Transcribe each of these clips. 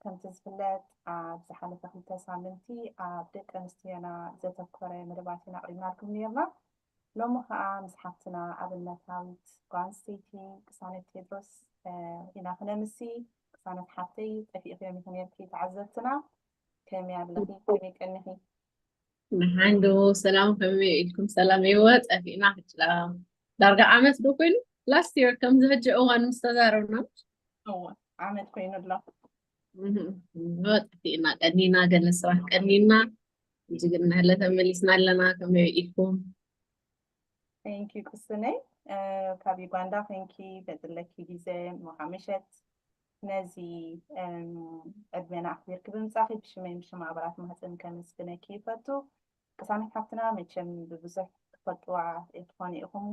ከምቲ ዝፍለጥ ኣብ ዝሓለፈ ክልተ ሳምንቲ ኣብ ደቂ ኣንስትዮና ዘተኮረ መደባት ኢና ኣቕሪብናልኩም ነርና። ሎሚ ከዓ ምስ ሓፍትና ኣብነታዊት ጓል ኣንስተይቲ ቅሳነት ቴድሮስ ኢና ክነምሲ። ቅሳነት ሓፍተይ ጠፊእኺ ዮም ኢኺ ነርኪ ተዓዘብትና ከመይ ኣለኺ ከመይ ቀኒኺ? ንሓንዶ ሰላም ከመይ ኢልኩም ሰላም ይወ ፀፊእና ሕጭላ ዳርጋ ዓመት ዶ ኮይኑ ላስት የር ከምዚ ሕጂ እዋን ምስ ተዛረብና እወ ዓመት ኮይኑ ኣሎ ይወ ጠፊእና ቀኒና ገለ ስራሕ ቀኒና እዚ ግን ናህለ ተመሊስና ኣለና ከመይ ኢልኩም ቴንኪ ቅስነይ ካብ ዩጋንዳ ኮንኪ በፅለኪ ግዜ ምሓመሸት ነዚ ዕድሜና ኣኽቢርኪ ብምጻኺ ብሽመይን ብሽም ኣባላት ማህጸን ከመስግነኪ ይፈቱ። ቅሳነት ሓፍትና መቸም ብብዙሕ ትፈልጥዋ ትኾኑ ኢኹም።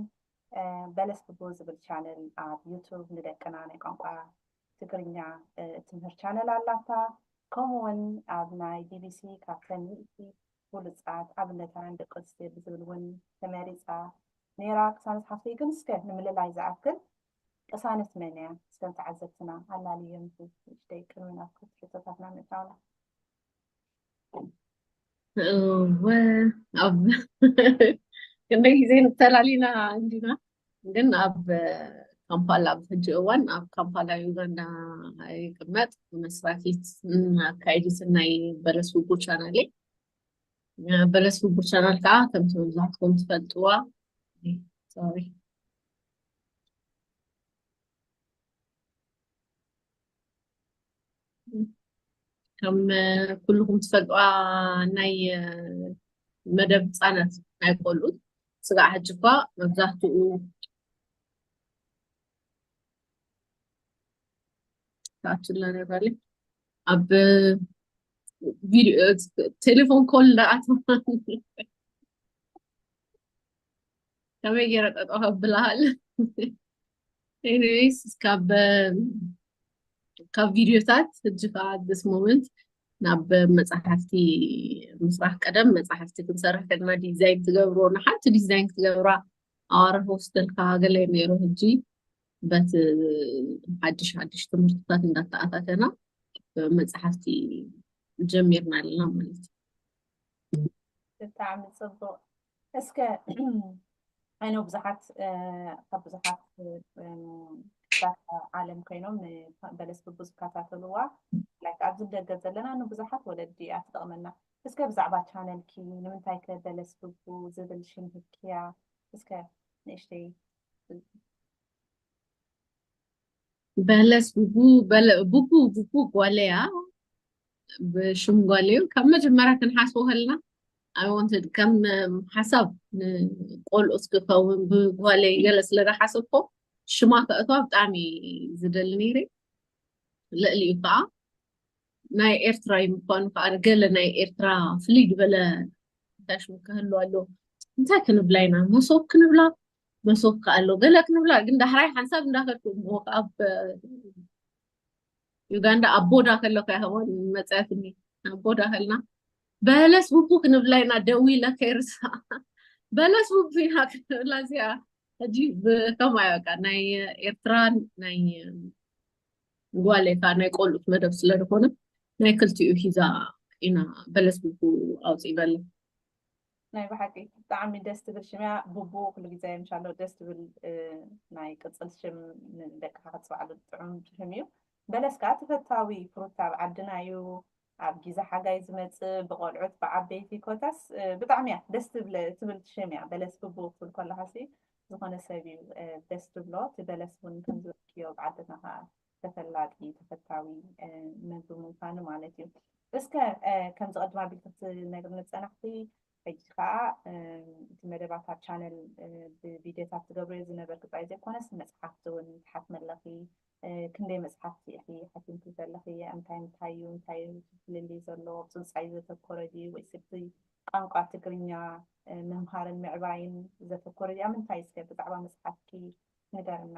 በለስ ብቡ ዝብል ቻነል ኣብ ዩቱብ ንደቅና ናይ ቋንቋ ትግርኛ እትምህር ቻነል ኣላታ። ከምኡ እውን ኣብ ናይ ቢቢሲ ካብተን ሚእቲ ብሉጻት ኣብነታውያን ደቂ ኣንስትዮ ብዝብል እውን ተመሪጻ ነይራ። ቅሳነት ሓፍተይ ግን እስከ ንምልላይ ዝኣክል ቅሳነት መን እያ? እስከ ተዓዘብትና ኣላልዮም ንእሽተይ ቅድሚ ናብ ክልተ ሕቶታትና ምእታውና። እወ ኣብ ክንደይ ግዜ ንተላሊና እንዲና ግን ኣብ ካምፓላ ኣብ ሕጂ እዋን ኣብ ካምፓላ ዩጋንዳ ይቅመጥ መስራቲት ኣካይዲትን ናይ በለስ ውጉ ቻናል በለስ ውጉ ቻናል ከዓ ከምቲ መብዛሕትኩም ትፈልጥዋ ሶሪ ከም ኩልኹም ትፈልጥዋ ናይ መደብ ህፃናት ናይ ቆልዑ ስጋዕ ሕጂ እኳ መብዛሕትኡ ተኣትላ ነባለ ኣብ ቴሌፎን ኮል እንዳኣተዋ ከመይ ገይረ ጠጠው ከብልሃል ኤኒዌይስ ካብ ካብ ቪድዮታት ሕጂ ከዓ ዲስ ሞመንት ናብ መፅሓፍቲ ምስራሕ ቀደም መፅሓፍቲ ክንሰርሕ ከለና ዲዛይን ትገብሮ ንሓንቲ ዲዛይን ክትገብራ ኣዋርሕ ወስደልካ ገለ ነይሩ ሕጂ በቲ ሓድሽ ሓድሽ ትምህርትታት እንዳተኣታተና መፅሓፍቲ ጀሚርና ኣለና ማለት እዩ ብጣዕሚ ፅቡቅ እስከ ኣይኖ ብዙሓት ካብ ብዙሓት ዳታ ዓለም ኮይኖም ንበለስ ብቡ ዝከታተልዋ ላይክ ኣብዚ ደገ ዘለና ንብዙሓት ወለዲ እያ ትጠቕመና እስከ ብዛዕባ ቻነልኪ ንምንታይ ከ በለስ ብቡ ዝብል ሽም ህብኪያ እስከ ንእሽተይ በለስ ቡቡ ቡቡ ቡቡ ጓለያ ብሽም ጓለዩ ካብ መጀመርያ ክንሓስቦ ከለና ኣይወንትድ ከም ሓሳብ ንቆልኡስ ክኸውን ብጓለይ ገለ ስለ ዝሓሰብኮ ሽማ ከእቷ ብጣዕሚ ዝደሊ ነይረ ልዕሊኡ ከዓ ናይ ኤርትራ እዩ ምኳኑ ከዓ ገለ ናይ ኤርትራ ፍልይ ዝበለ እንታይ ሽሙ ክህሉ ኣሎ እንታይ ክንብላ ኢና መሶብ ክንብላ መሶብ ከ ኣሎ ገለ ክንብላ ግን ዳሕራይ ሓንሳብ እንዳከድኩ እሞ ኣብ ዩጋንዳ ኣብ ቦዳ ከለኩ ያህዋን መፅያትኒ ኣብ ቦዳ ከልና በለስ ቡቡ ክንብላ ኢና ደዊ ኢለ ከይርሳ በለስ ቡቡ ኢና ክንብላ እዚኣ ሕጂ ከምኡ ኣዩ በቃ ናይ ኤርትራን ናይ ጓሌካ ናይ ቆልኡት መደብ ስለ ዝኾነ ናይ ክልቲኡ ሂዛ ኢና በለስ ቡቡ ኣውፅእ በለ ናይ ብሓቂ ብጣዕሚ ደስ ትብል ሽም እያ ቡቡ ኩሉ ግዜ እንሻሎ ደስ ትብል ናይ ቅፅል ሽም ንደቅኻ ክትፅውዓሉ ጥዑም ሽም እዩ በለስ ከዓ ተፈታዊ ፍሩት ኣብ ዓድና እዩ ኣብ ግዜ ሓጋይ ዝመፅእ ብቆልዑት ብዓበይቲ ኮታስ ብጣዕሚ እያ ደስ ትብል ሽም እያ በለስ ብቡ ክትብል ከለካሲ ዝኮነ ሰብ እዩ ደስ ትብሎ እቲ በለስ እውን ከምዝበልክዮ ብዓድና ከዓ ተፈላጢ ተፈታዊ መዝብ ምንፋኑ ማለት እዩ እስከ ከምዚ ቅድም ኣቢል ክትነግርኒ ዝፀናሕቲ ሕጂ ከዓ እቲ መደባት ኣብ ቻነል ብቪድዮታት ትገብርዮ ዝነበርክ ጥራይ ዘይኮነስ መፅሓፍቲ እውን ትሓትሚ ኣለኺ ክንደይ መፅሓፍቲ ኢኺ ሓቲምኪ ዘለኺ እንታይ እንታይ እዩ እንታይ ፍልልይ ዘለዎ ብፅንፃይ ዘተኮረ ድዩ ወይስ እቲ ቋንቋ ትግርኛ ምምሃርን ምዕባይን ዘተኮረ ድዩ ኣብ ምንታይ እስከ ብዛዕባ መፅሓፍኪ ንገርና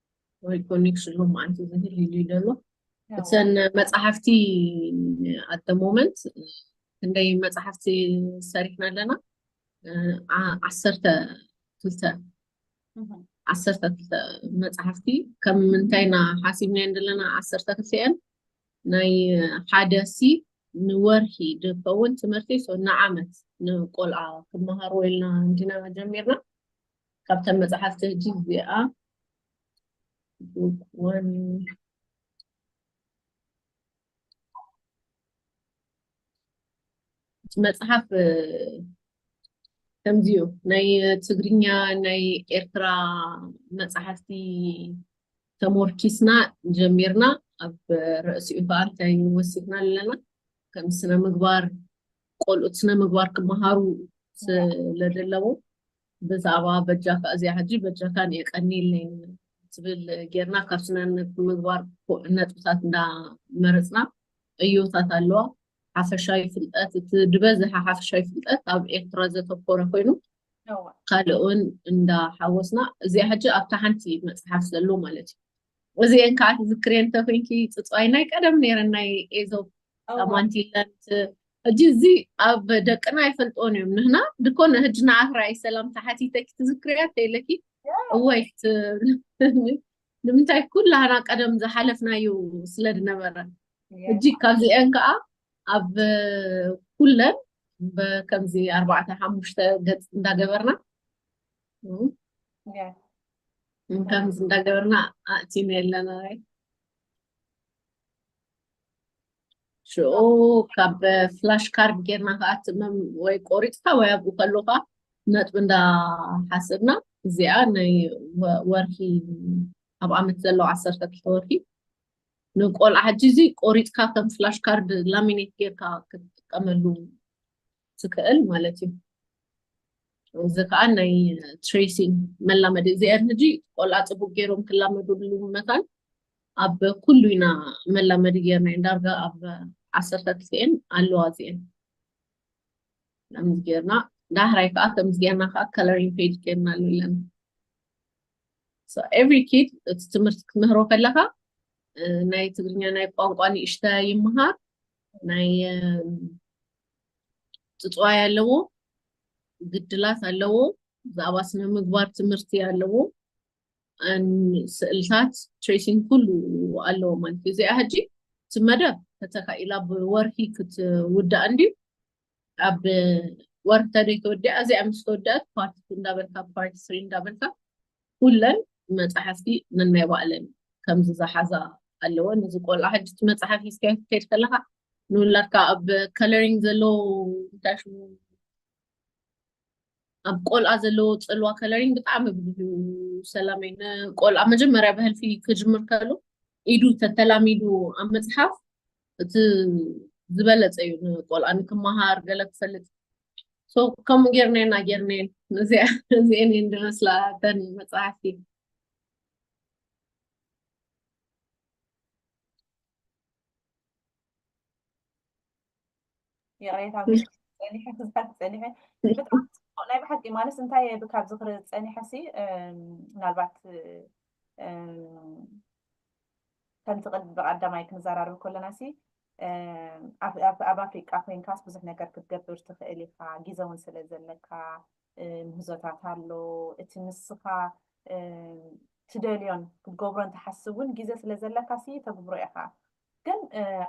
ወይ ኮኔክሽን ሎማዓንቲ ዝህል ኢሉ ዘሎ እተን መፅሓፍቲ ኣደ ሞመንት ክንደይ መፅሓፍቲ ሰሪሕና ኣለና ዓሰርተ ክልተ ዓሰርተ ክልተ መፅሓፍቲ ከም ምንታይና ሓሲብናየን ዘለና ዓሰርተ ክልተአን ናይ ሓደ ሲ ንወርሒ ዝከውን ትምህርቲ ንዓመት ንቆልዓ ክመሃርዎ ኢልና እንዲና ጀሚርና ካብተን መፅሓፍቲ ሕጂ እዚኣ መፅሓፍ ከምዚ እዩ ናይ ትግርኛ ናይ ኤርትራ መፅሓፍቲ ተሞርኪስና ጀሚርና ኣብ ርእሲኡ ከዓ እንታይ ወሲድና ኣለና ከም ስነ ምግባር ቆልኡት ስነ ምግባር ክመሃሩ ስለዘለዎ ብዛዕባ በጃካ እዚኣ ሕጂ በጃካ ን የቀንይልኝ ትብል ጌርና ካብ ስነ ምግባር ነጥብታት እንዳ መረጽና ዕዮታት ኣለዋ ሓፈሻዊ ፍልጠት እቲ ድበዝሓ ሓፈሻዊ ፍልጠት ኣብ ኤርትራ ዘተኮረ ኮይኑ ካልእውን እንዳ ሓወስና እዚኣ ሕጂ ኣብታ ሓንቲ መጽሓፍ ዘሎ ማለት እዩ እዚኤን ከዓ ትዝክርየን እንተኮይንኪ ፅፅዋይ ናይ ቀደም ነይረን ናይ ኤዞብ ማንቲለን ሕጂ እዚ ኣብ ደቅና ኣይፈልጥዎን እዮም ንህና ድኮነ ህጂ ንዓኽ ርኣይ ሰላም ተሓቲተኪ ትዝክርያ ተይለኪ እወይ ንምንታይ ኩላህና ቀደም ዝሓለፍናዩ ስለ ዝነበረ ሕጂ ካብዚኤን ከዓ ኣብ ኩለን ከምዚ ኣርባዕተ ሓሙሽተ ገፅ እንዳገበርና ከምዚ እንዳገበርና ኣእቲና ኣለና ሽኡ ካብ ፍላሽ ካርድ ጌርና ከዓ ትመም ወይ ቆሪፅካ ወይ ኣብኡ ከለካ ነጥቢ እንዳሓሰብና እዚኣ ናይ ወርሒ ኣብ ዓመት ዘለዉ ዓሰርተ ክልተ ወርሒ ንቆልዓ ሕጂ እዚ ቆሪፅካ ከም ፍላሽ ካርድ ላሚኔት ጌርካ ክትጥቀመሉ ዝክእል ማለት እዩ እዚ ከዓ ናይ ትሬሲን መላመዲ እዚኣን ሕጂ ቆልዓ ፅቡቅ ገይሮም ክላመድሉ መታን ኣብ ኩሉ ኢና መላመዲ ገይርና እየን ዳርጋ ኣብ ዓሰርተ ክልቲኤን ኣለዋ እዚኤን ከምዚ ገይርና ዳሕራይ ከዓ ከምዚ ገይርና ከዓ ከለሪን ፔጅ ገይርና ኣሎ ኣለና ኤቭሪ ኪድ እቲ ትምህርቲ ክትምህሮ ከለካ ናይ ትግርኛ ናይ ቋንቋ ንእሽተ ይምሃር ናይ ፅፅዋይ ኣለዎ፣ ግድላት ኣለዎ፣ ብዛዕባ ስነ ምግባር ትምህርቲ ኣለዎ፣ ስእልታት ትሬሲንግ ኩሉ ኣለዎ ማለት እዩ። እዚኣ ሕጂ እቲ መደብ ተተካኢላ ብወርሂ ክትውዳእ እንድዩ ኣብ ወርሂ ተደይ ተወዲኣ እዚኣ ምስ ተወደኣት ፓርቲ እንዳበልካ ፓርቲ ስሪ እንዳበልካ ኩለን መጻሕፍቲ ነናይ ባእለን ከምዚ ዝሓዛ ኣለወን። እዚ ቆልዓ ሕጂ እቲ መጽሓፍ ሒዝካዮ ክትከይድ ከለኻ ንውላድካ ኣብ ከለሪንግ ዘለዎ እንታይ ሽሙ ኣብ ቆልዓ ዘለዎ ፅልዋ ከለሪንግ ብጣዕሚ ብዙ ሰላም እዩ ንቆልዓ መጀመርያ ብህልፊ ክጅምር ከሉ ኢዱ ተተላሚዱ ኣብ መፅሓፍ እቲ ዝበለፀ እዩ ንቆልዓ ንክመሃር ገለ ክፈልጥ ሶ ከምኡ ጌርናየን ኣጌርናየን እዚአን እየን ዝመስላ እተን መፅሓፍቲ ይቕሬታ ፀኒሐ ክዝሓት ፀኒሐ ብጣዕሚ ፅቡቅ ናይ ብሓቂ ማለት እንታይ ካብ ዝኽሪ ፀኒሐ ሲ ምናልባት ከምቲ ቅድሚ ብቀዳማይ ክንዘራረብ ከለናሲ ኣብ ኣፍሪቃ ኮይንካስ ብዙሕ ነገር ክትገብር ትኽእል ኢኻ፣ ግዘ እውን ስለ ዘለካ ምህዞታት ኣሎ፣ እቲ ንስኻ ትደልዮን ክትገብሮን ትሓስብ እውን ግዘ ስለ ዘለካሲ ተግብሮ ኢኻ፣ ግን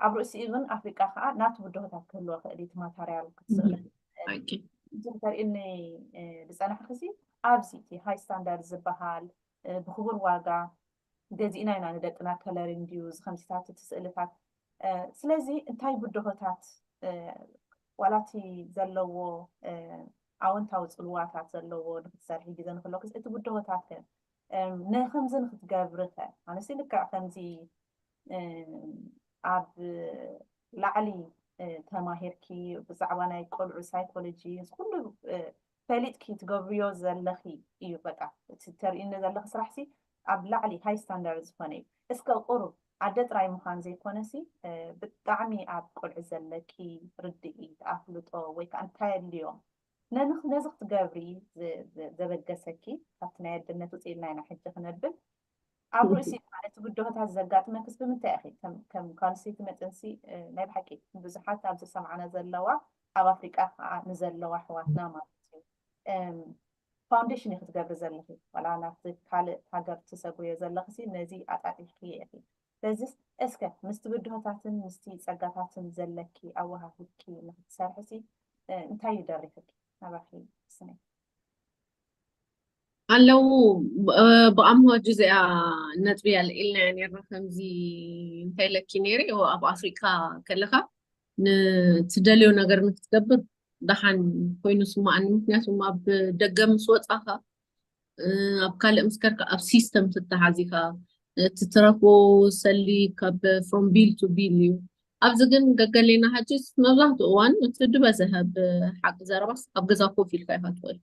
ኣብ ርእሲኡ ግን ኣፍሪቃ ከዓ ናቱ ብድሆታት ክህልዎ ይኽእል እዩ፣ እቲ ማታርያል ክትስእኖ ትኽእል እዚ ተርእኒ ዝፀናሕክሲ ኣብዚ እቲ ሃይ ስታንዳርድ ዝበሃል ብክቡር ዋጋ ገዚእና ኢና ንደቅና ከለሪን ድዩ ዝከምዚታት እቲ ስእልታት ስለዚ እንታይ ብድሆታት ዋላ እቲ ዘለዎ ኣወንታዊ ፅልዋታት ዘለዎ ንክትሰርሒ ግዘ ንክለኩስ እቲ ብድሆታት ከ ንከምዚ ንክትገብሪ ከ ኣነሲ ልክዕ ከምዚ ኣብ ላዕሊ ተማሂርኪ ብዛዕባ ናይ ቆልዑ ሳይኮሎጂ ኩሉ ፈሊጥኪ ትገብርዮ ዘለኺ እዩ በቃ እቲ ተርእይኒ ዘለኺ ስራሕሲ ኣብ ላዕሊ ሃይ ስታንዳርድ ዝኾነ እዩ እስከ ቁሩብ ኣደ ጥራይ ምዃን ዘይኮነሲ ብጣዕሚ ኣብ ቆልዑት ዘለኪ ርድኢት ኣፍልጦ ወይ ከኣ እንታይ ኣድልዮም ነዚ ክትገብሪ ዘበገሰኪ ካብቲ ናይ ኣደነት ውጽእ ኢልና ኢና ሕጂ ክነብል ኣብ ርእሲ ማለት ብድሆታት ዘጋጥመክስ ብምንታይ ኢኺ ከም ጓል ኣንስተይቲ መጥንሲ ናይ ብሓቂ ብዙሓት ኣብ ዝሰምዓና ዘለዋ ኣብ ኣፍሪቃ ከዓ ንዘለዋ ኣሕዋትና ማለት እዩ ፋውንዴሽን እዩ ክትገብሪ ዘለኺ ዋላ ናብቲ ካልእ ሃገር ትሰጉርዮ ዘለኽሲ ነዚ ኣጣጢሕክዮ ኢኺ ስለዚ እስከ ምስቲ ብድሆታትን ምስቲ ጸጋታትን ዘለኪ ኣወሃሂድኪ ንክትሰርሕሲ እንታይ እዩ ደሪኽኪ ናባኺ ስነይ ኣለዉ ብኣምሆ ጅዚኣ ነጥቢ ኣልዒልና እያ ነርና ከምዚ እንታይ ኢለኪ ነይረ ኣብ ኣፍሪቃ ከለካ ንትደልዮ ነገር ንክትገብር ደሓን ኮይኑ ስማኣኒ ምክንያቱ ኣብ ደገ ምስ ወፃካ ኣብ ካልእ ምስ ከርካ ኣብ ሲስተም ትተሓዚካ እቲ ትረፎ ሰሊ ካብ ፍሮም ቢል ቱ ቢል እዩ ኣብዚ ግን ገገሌና ሃጅስ መብዛሕትኡ እዋን እቲ ድበዝሀ ብሓቂ ዘረባስ ኣብ ገዛ ኮፍ ኢልካ ኢካ ትኽእል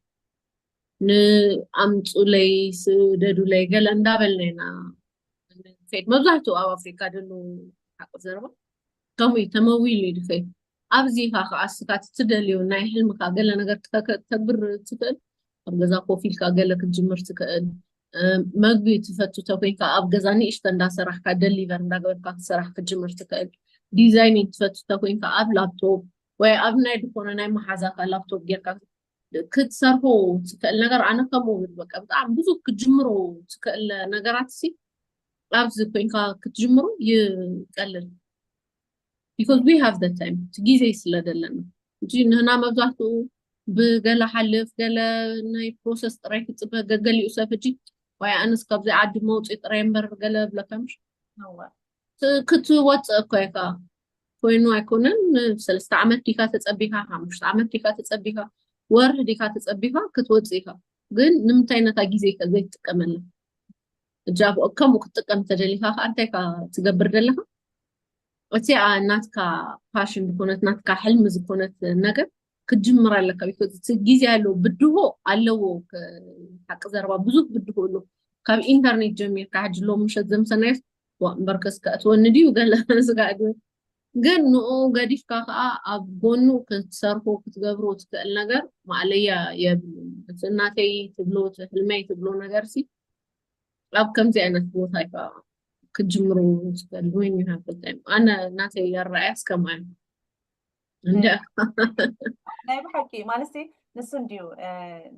ንኣምፁለይ ስደዱለይ ገለ እንዳበልና ኢና ንከይድ መብዛሕትኡ ኣብ ኣፍሪካ ደሎ ሓቂ ዘረባ ከምኡ እዩ ተመዊሉ እዩ ድከይድ ኣብዚ ኢኻ ከዓ እስካ ትደልዮ ናይ ሕልምካ ገለ ነገር ተግብር ትኽእል ኣብ ገዛ ኮፍ ኢልካ ገለ ክትጅምር ትኽእል መግቢ ትፈቱ ተኮይንካ ኣብ ገዛ ንእሽተ እንዳሰራሕካ ደሊቨር እንዳገበርካ ክትሰራሕ ክትጅምር ትኽእል ዲዛይኒንግ ትፈቱ ተኮይንካ ኣብ ላፕቶፕ ወይ ኣብ ናይ ዝኾነ ናይ መሓዛካ ላፕቶፕ ጌርካ ክትሰርሑ ትክእል ነገር ኣነ ከምኡ ብል በቃ ብጣዕሚ ብዙ ክትጅምሩ ትክእል ነገራት ሲ ኣብዚ ኮይንካ ክትጅምሩ ይቀልል ቢካዝ ዊ ሃቭ ደ ታይም እቲ ግዜ ስለ ዘለና እንጂ ንህና መብዛሕትኡ ብገለ ሓልፍ ገለ ናይ ፕሮሰስ ጥራይ ክፅበ ገገሊኡ ሰብ ሕጂ ዋይ ኣነስ ካብዚ ዓዲ መውፅኢ ጥራይ እምበር ገለ ብለካ ምሽ ክትወፅእ እኮ ኢካ ኮይኑ ኣይኮነን ሰለስተ ዓመት ዲካ ተፀቢካ ሓሙሽተ ዓመት ዲካ ተፀቢካ ወርሒ ዲካ ተፀቢካ ክትወፅእ ኢካ ግን ንምንታይ ነታ ግዜ ከ ዘይትጥቀመላ እጃ ከምኡ ክትጥቀም ተደሊካ ከዓ እንታይ ካ ትገብር ደለካ እቲ ናትካ ፓሽን ዝኮነት ናትካ ሕልሚ ዝኮነት ነገር ክትጅምር ኣለካ ቢኮዝ ግዜ ኣለዎ ብድሆ ኣለዎ ሓቂ ዘረባ ብዙሕ ብድሆ ኣሎ ካብ ኢንተርኔት ጀሚርካ ሕጂ ሎ ምሸት ዘምሰናዮ እምበርከስ ከእትወኒ ድዩ ገለ ስጋዕ ድዩ ግን ንኡ ገዲፍካ ከዓ ኣብ ጎኑ ክትሰርፎ ክትገብሮ ትክእል ነገር ማእለያ የብሉን እቲ እናተይ ትብሎ እቲ ህልመይ ትብሎ ነገር ሲ ኣብ ከምዚ ዓይነት ቦታ እዩ ከዓ ክትጅምሩ ትክእል ወይ ይሃፍልታይም ኣነ እናተይ ኣረኣያስ ከምኣ እዩ ናይ ብሓቂ ማለት ንሱ እንድዩ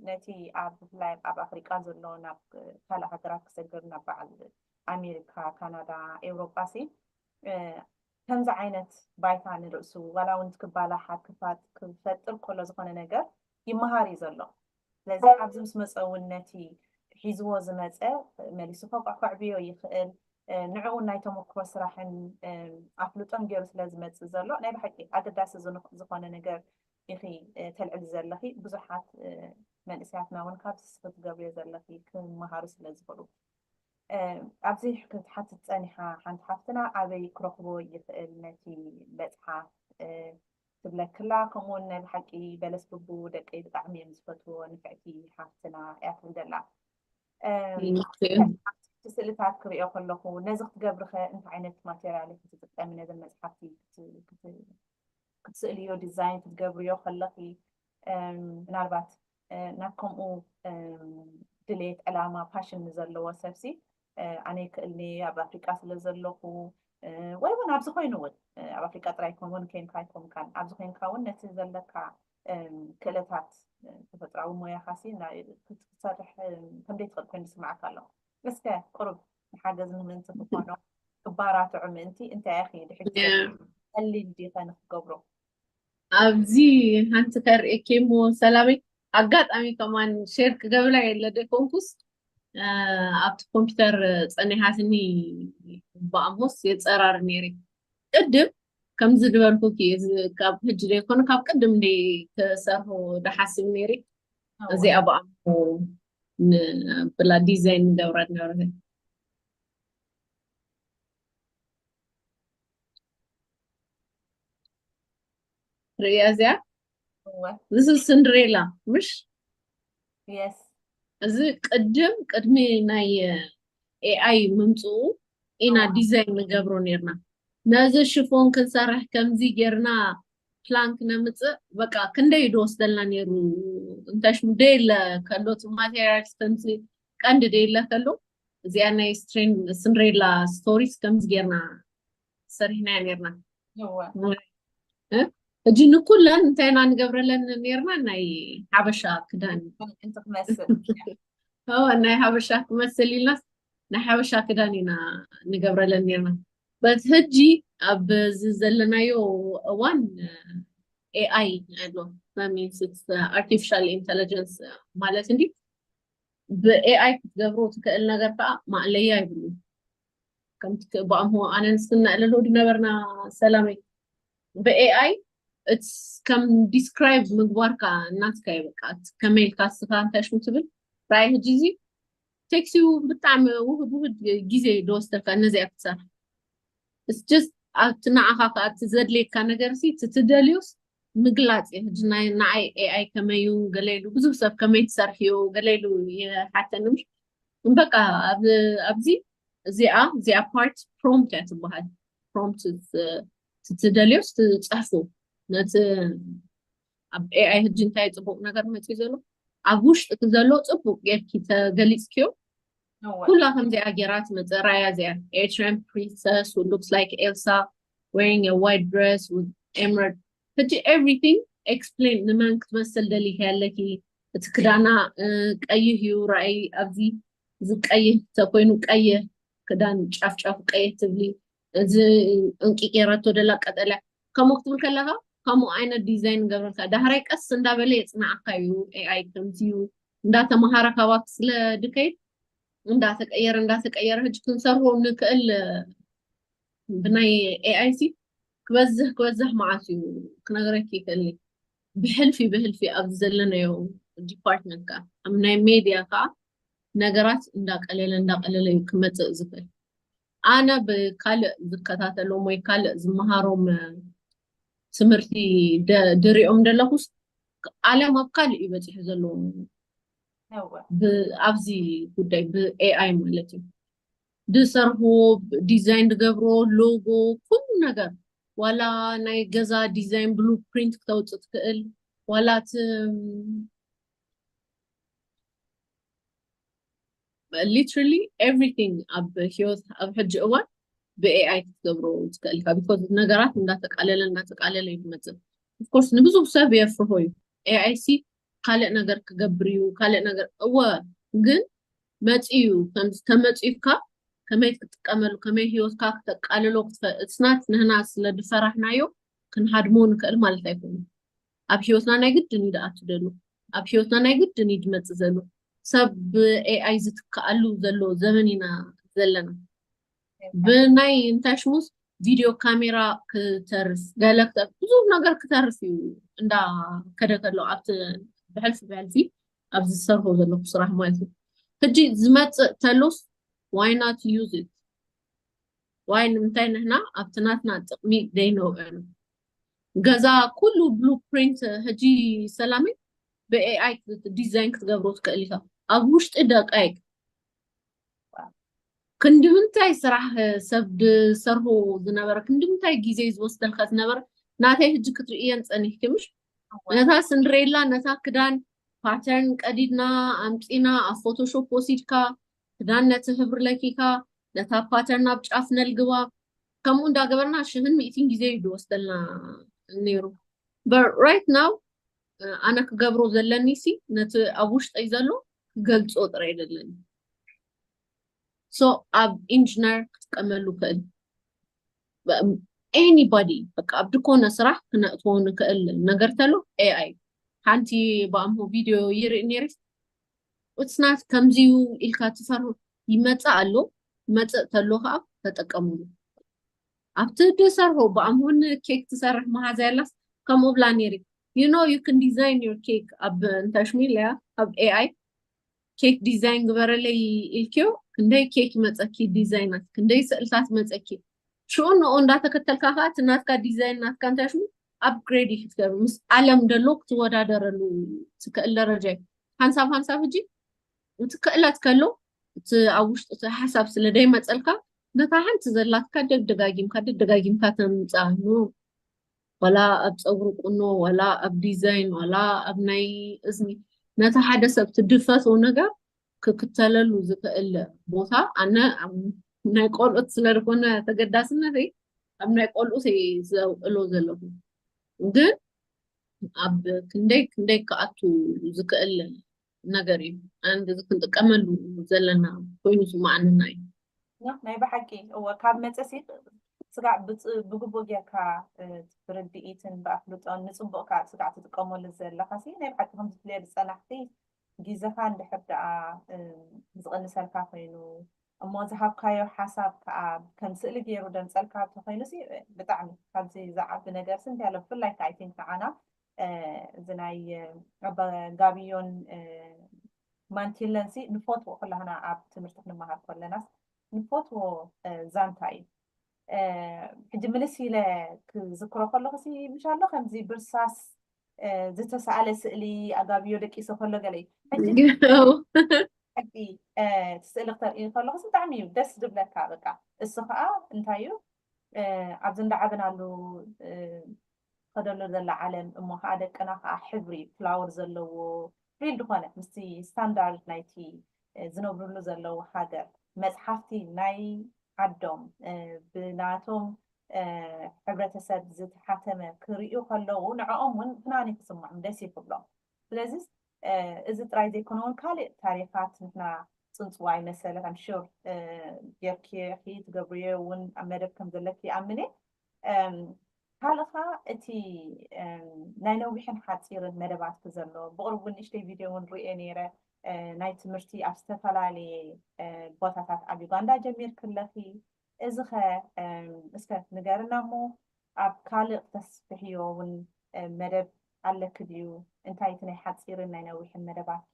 ነቲ ኣብ ብፍላይ ኣብ ኣፍሪቃ ዘሎ ናብ ካልእ ሃገራት ክሰግር ናብ በዓል ኣሜሪካ ካናዳ ኤውሮጳ ሲ ከምዚ ዓይነት ባይታ ንርእሱ ዋላ እውን ክባላሓ ክፋት ክፈጥር ከሎ ዝኾነ ነገር ይመሃር እዩ ዘሎ ስለዚ ኣብዚ ምስ መጸ እውን ነቲ ሒዝዎ ዝመጸ መሊሱ ፎቋዕ ከዕብዮ ይኽእል። ንዕኡን ናይ ተሞክሮ ስራሕን ኣፍልጦን ገይሩ ስለ ዝመጽእ ዘሎ ናይ ብሓቂ ኣገዳሲ ዝኾነ ነገር ኢኺ ተልዕሊ ዘለኺ። ብዙሓት መንእሰያትና እውን ካብዚ እስኺ ትገብርዮ ዘለኺ ክመሃሩ ስለ ዝኽእሉ። ኣብዚ ክትሓትት ጸኒሓ ሓንቲ ሓፍትና ኣበይ ክረኽቦ ይኽእል ነቲ መጽሓፍ ትብለክላ ከምኡ ውን ናይ ብሓቂ በለስ ብቡ ደቀይ ብጣዕሚ እየን ዝፈትዎ ንፍዕቲ ሓፍትና እያ ትብል ዘላ እቲ ስእልታት ክሪኦ ከለኹ ነዚ ክትገብርከ እንታይ ዓይነት ማቴሪያል ክትጥቀሚ ነዘን መፅሓፍቲ ክትስእልዮ ዲዛይን ክትገብርዮ ከለኺ ምናልባት ናብ ከምኡ ድሌት ዕላማ ፓሽን ንዘለዎ ሰብሲ ኣነ ይክእልኒ ኣብ ኣፍሪቃ ስለ ዘለኹ ወይ እውን ኣብዚ ኮይኑ እውን ኣብ ኣፍሪቃ ጥራይ ይኮን እውን ኮይንካ ኣይኮንካን ኣብዚ ኮይንካ እውን ነቲ ዘለካ ክእለታት ተፈጥራዊ ሞያኻ ሲ ክትሰርሕ ከምደይ ትኽእል ኮይኑ ዝስምዓካ ኣሎ እስከ ቁሩብ ንሓገዝ ንምንቲ ክኾኖ ክባራትዑ ምእንቲ እንታይ ኢኺ ድሕጊ ጸሊም ዲኸ ንክገብሮ ኣብዚ ሓንቲ ከርእየኪ እሞ ሰላመይ ኣጋጣሚ ከማን ሼር ክገብላ የለ ደኮንኩስ ኣብቲ ኮምፒውተር ፀኒሓትኒ ብኣሞስ የፀራር ነይረ ቅድም ከምዚ ዝበልኩኪ ካብ ሕጂ ዘይኮነ ካብ ቅድም ደ ክሰርሑ ደሓስብ ነይረ እዚኣ ብኣሞ ብላ ዲዛይን ንገብራ ነበረ ርእያ እዚኣ እዚ ስንድሬላ ምሽ እዚ ቅድም ቅድሚ ናይ ኤኣይ ምምፅኡ ኢና ዲዛይን ንገብሮ ነርና ነዚ ሽፎን ክንሰርሕ ከምዚ ጌርና ፕላንክ ነምፅእ በቃ ክንደይ ድወስደልና ነይሩ እንታሽ ደየለ ከሎ እቲ ማቴሪያልስ ከምዚ ቀንዲ ደየለ ከሎ እዚኣ ናይ ስንድሬላ ስቶሪስ ከምዚ ጌርና ሰሪሕናዮ ነርና እጂ ንኩለን እንታይ ኢና ንገብረለን ነርና ናይ ሓበሻ ክዳን ናይ ሓበሻ ክመስል ኢልና ናይ ሓበሻ ክዳን ኢና ንገብረለን ነርና በት ህጂ ኣብዚ ዘለናዮ እዋን ኤኣይ ኣሎ ኣርቲፊሻል ኢንቴሊጀንስ ማለት እንዲ ብኤኣይ ክትገብሮ ትክእል ነገር ከዓ ማእለያ ይብሉ ከምቲ ክእባኣምሆ ኣነ ንስክና እለሎ ድነበርና ሰላመይ ብኤኣይ እትስ ከም ዲስክራይብ ምግባርካ እናትካ ይበቃ ከመይ ኢልካ ስኻ እንታይ ሽሙ ትብል ራይ ህጂ እዚ ቴክሲ ብጣዕሚ ውህድ ውህድ ግዜ ደወስተልካ እነዚኣ ክትሰርሕ እስስ ኣብቲ ንዓኻ ከዓ እቲ ዘድልየካ ነገር ሲ ትትደልዩስ ምግላፅ እዩ ህጂ ናይ ንዓይ ኤኣይ ከመዩ ገለሉ ብዙሕ ሰብ ከመይ ትሰርሕዩ ገለሉ ይሓተኒ ምሽ በቃ ኣብዚ እዚኣ እዚኣ ፓርት ፕሮምፕት እያ ትበሃል ፕሮምፕት ትደልዮስ ትፅሕፉ ነቲ ኣብ ኤኣይ ህጂ እንታይ ፅቡቅ ነገር መፅዩ ዘሎ ኣብ ውሽጢ ዘሎ ፅቡቅ ጌርኪ ተገሊፅኪዮ ኩላ ከምዚኣ ጌራ ትመፀ ራያ እዚኣ ኤርትራን ፕሪንሰስ ሉክስ ላይክ ኤልሳ wearing a white dress with emerald ሕጂ everything explain ንመን ክትመስል ደሊኪ ኣለኪ እቲ ክዳና ቀይህ እዩ ራእይ ኣብዚ እዚ ቀይህ ተኮይኑ ቀይህ ክዳን ጫፍ ጫፍ ቀይህ ትብሊ እዚ እንቂ ገይራቶ ደላ ቀጠልያ ከምኡ ክትብል ከለካ ከምኡ ዓይነት ዲዛይን ንገብረልካ ዳህራይ ቀስ እንዳበለ የፅናዓካ እዩ ኤኣይ ከምዚ እዩ እንዳተምሃረ ካባክ ስለ ድከይድ እንዳተቀየረ እንዳተቀየረ ህጅ ክንሰርዎ ንክእል ብናይ ኤኣይ ሲ ክበዝህ ክበዝህ መዓት እዩ ክነግረኪ ይክእልኒ ብሕልፊ ብህልፊ ኣብዚ ዘለናዮ ዲፓርትመንት ከዓ ኣብ ናይ ሜድያ ከዓ ነገራት እንዳቀለለ እንዳቀለለ እዩ ክመፅእ ዝኽእል ኣነ ብካልእ ዝከታተሎም ወይ ካልእ ዝመሃሮም ትምህርቲ ድሪኦም ደለኹስ ዓለም ኣብ ካልእ እዩ በፂሑ ዘለዎ ኣብዚ ጉዳይ ብኤኣይ ማለት እዩ ድሰርሑ ዲዛይን ድገብሮ ሎጎ ኩሉ ነገር ዋላ ናይ ገዛ ዲዛይን ብሉ ፕሪንት ክተውፅእ ትክእል ዋላ እቲ ሊትራሊ ኤቭሪቲንግ ኣብ ሂወት ኣብ ሕጂ እዋን ብኤኣይ ክትገብሮ ትክእል ኢካ ቢኮዝ ነገራት እንዳተቃለለ እንዳተቃለለ እዩ ዝመፅእ ኦፍኮርስ ንብዙሕ ሰብ የፍርሆ እዩ ኤኣይ ሲ ካልእ ነገር ክገብር እዩ ካልእ ነገር እወ ግን መጺኡ ከምዚ ተመጺኡካ ከመይ ክትጥቀመሉ ከመይ ህይወትካ ክተቃልሎ ክትፈ እትስናት ንህና ስለ ድፈራሕናዮ ክንሃድሞ ንክእል ማለት ኣይኮኑ ኣብ ህይወትና ናይ ግድን እዩ ድኣቱ ደሉ ኣብ ህይወትና ናይ ግድን እዩ ድመጽእ ዘሉ ሰብ ብኤኣይ ዝትክኣሉ ዘሎ ዘመን ኢና ዘለና ብናይ እንታይ ሽሙስ ቪድዮ ካሜራ ክተርፍ ገለ ክተርፍ ብዙ ነገር ክተርፍ እዩ እንዳ ከደ ከሎ ኣብቲ ብሕልፊ ብሕልፊ ኣብዚ ዝሰርሑ ዘለኹ ስራሕ ማለት እዩ ሕጂ ዝመፅእ ተሉፍ ዋይ ናት ዩዝ ኢት ዋይ ንምንታይ ንሕና ኣብቲ ናትና ጥቕሚ ዘይነውዕሉ ገዛ ኩሉ ብሉ ፕሪንት ሕጂ ሰላሚ ብኤኣይ ዲዛይን ክትገብሮ ትክእል ኢኻ ኣብ ውሽጢ ደቃይቅ ክንድምንታይ ስራሕ ሰብ ድሰርሁ ዝነበረ ክንድምንታይ ግዜ ዝወስደልካ ዝነበረ ናተይ ህጂ ክትርእየን ጸኒሕኪ ምሽ ነታ ስንድሬላ ነታ ክዳን ፓተርን ቀዲድና ኣምጺና ኣብ ፎቶሾፕ ወሲድካ ክዳን ነቲ ህብሪ ለኪካ ነታ ፓተርን ኣብ ጫፍ ነልግባ ከምኡ እንዳገበርና ሽህን ሚእቲን ግዜ እዩ ዝወስደልና ነይሩ በት ራይት ናው ኣነ ክገብሮ ዘለኒ ሲ ነቲ ኣብ ውሽጠይ ዘሎ ክገልፆ ጥራይ ዘለኒ ሶ ኣብ ኢንጂነር ክጥቀመሉ ክእል ኤኒባዲ በቃ ኣብ ድኮነ ስራሕ ክነእትዎ ንክእል ነገር ተሎ ኤኣይ ሓንቲ ብኣምሆ ቪድዮ ይርኢ ነይረ ውፅናት ከምዚዩ ኢልካ ትፈር ይመፅእ ኣሎ መፅእ ተሎ ከዓ ተጠቀሙሉ ኣብቲ ድሰርሆ ብኣምሁን ኬክ ትሰርሕ መሃዛ የላስ ከምኡ ብላ ነይሪ you know you can design your cake ኣብ እንተሽሚልያ ኣብ ኤኣይ ኬክ ዲዛይን ግበረለይ ኢልኪዮ ክንደይ ኬክ ይመፀኪ ዲዛይናት ክንደይ ስእልታት ይመፀኪ ሽኡ ንኡ እንዳተከተልካ ከዓ እቲ ናትካ ዲዛይን ናትካ እንታይ ሽሙ ኣፕግሬድ እዩ ክትገብር ምስ ዓለም ደሎ ክትወዳደረሉ ትክእል ደረጃ እዩ ሓንሳብ ሓንሳብ ሕጂ እቲ ክእለት ከሎ እቲ ኣብ ውሽጢ እቲ ሓሳብ ስለ ደይመፀልካ ነታ ሓንቲ ዘላትካ ደጋጊምካ ደጋጊምካ ተምጽኣ እሞ ዋላ ኣብ ፀጉሪ ቁኖ ዋላ ኣብ ዲዛይን ዋላ ኣብ ናይ እዝኒ ነቲ ሓደ ሰብ እቲ ድፈትዎ ነገር ክክተለሉ ዝኽእል ቦታ ኣነ ናይ ቆልኡት ስለዝኾነ ተገዳስነተይ ኣብ ናይ ቆልኡት ዘውዕሎ ዘለኹ ግን ኣብ ክንደይ ክንደይ ክኣቱ ዝክእል ነገር እዩ ኣንድ እዚ ክንጥቀመሉ ዘለና ኮይኑ ዝመኣንና እዩ ናይ ብሓቂ እወ ካብ መፀሲ ስጋዕ ብግቡእ ጌርካ ብርድኢትን ብኣፍልጦን ንፅቡቅ ከዓ ስጋዕ ትጥቀመሉ ዘለካ ሲ ናይ ብሓቂ ከም ዝፍለየሉ ፀናሕቲ ግዜኻ እንድሕር ደኣ ዝቕንሰልካ ኮይኑ እሞ ዝሃብካዮ ሓሳብ ከዓ ከም ስእሊ ገይሩ ደምፀልካ እንተኮይኑ ሲ ብጣዕሚ ካብዚ ዝዓቢ ነገር ሲ እንታይ ኣሎ ብፍላይ ከዓ ኣይቲንክ ንዓና እዚ ናይ ኣባ ጋብዮን ማንቲለን ሲ ንፈትዎ ኩላህና ኣብ ትምህርቲ ክንመሃር ከለናስ ንፈትዎ ዛንታ እዩ ሕጂ ምልስ ኢለ ክዝክሮ ከለኹ ሲ ምሽ ኣሎ ከምዚ ብርሳስ ዝተሰኣለ ስእሊ ኣጋብዮ ደቂሶ ከሎ ገለ እዩ ሕጂ ስእሊ ክተርኢ ከለኹ ብጣዕሚ እዩ ደስ ዝብለካ በቃ እሱ ከዓ እንታይ እዩ ኣብዚ እንዳዓበናሉ ትኸደሉ ዘላ ዓለም እሞ ከኣ ደቅና ከኣ ሕብሪ ፍላወር ዘለዎ ፊልድ ኮነ ምስቲ ስታንዳርድ ናይቲ ዝነብርሉ ዘለዉ ሃገር መጽሓፍቲ ናይ ዓዶም ብናቶም ሕብረተሰብ ዝተሓተመ ክርእዩ ከለዉ ንዕኦም እውን ፍናኒ ክስምዖም ደስ እዩ ክብሎም ስለዚ እዚ ጥራይ ዘይኮነ እውን ካልእ ታሪኻት ንሕና ፅንፅዋ ይመሰለ ከም ሹር ጌርኪ ትገብርዮ እውን ኣብ መደብ ከም ዘለኪ ይኣምን እየ ካልእ ኸኣ እቲ ናይ ነዊሕን ሓጺርን መደባትኪ ዘሎ ብቕርቡ ንእሽተይ ቪድዮ እውን ርእየ ነይረ ናይ ትምህርቲ ኣብ ዝተፈላለየ ቦታታት ኣብ ዩጋንዳ ጀሚርኪ ኣለኺ እዚ ኸ እስከ ንገርና እሞ ኣብ ካልእ ክተስፍሕዮ እውን መደብ ኣለኪ ድዩ እንታይ እቲ ናይ ሓጺርን ናይ ነዊሕን መደባትኪ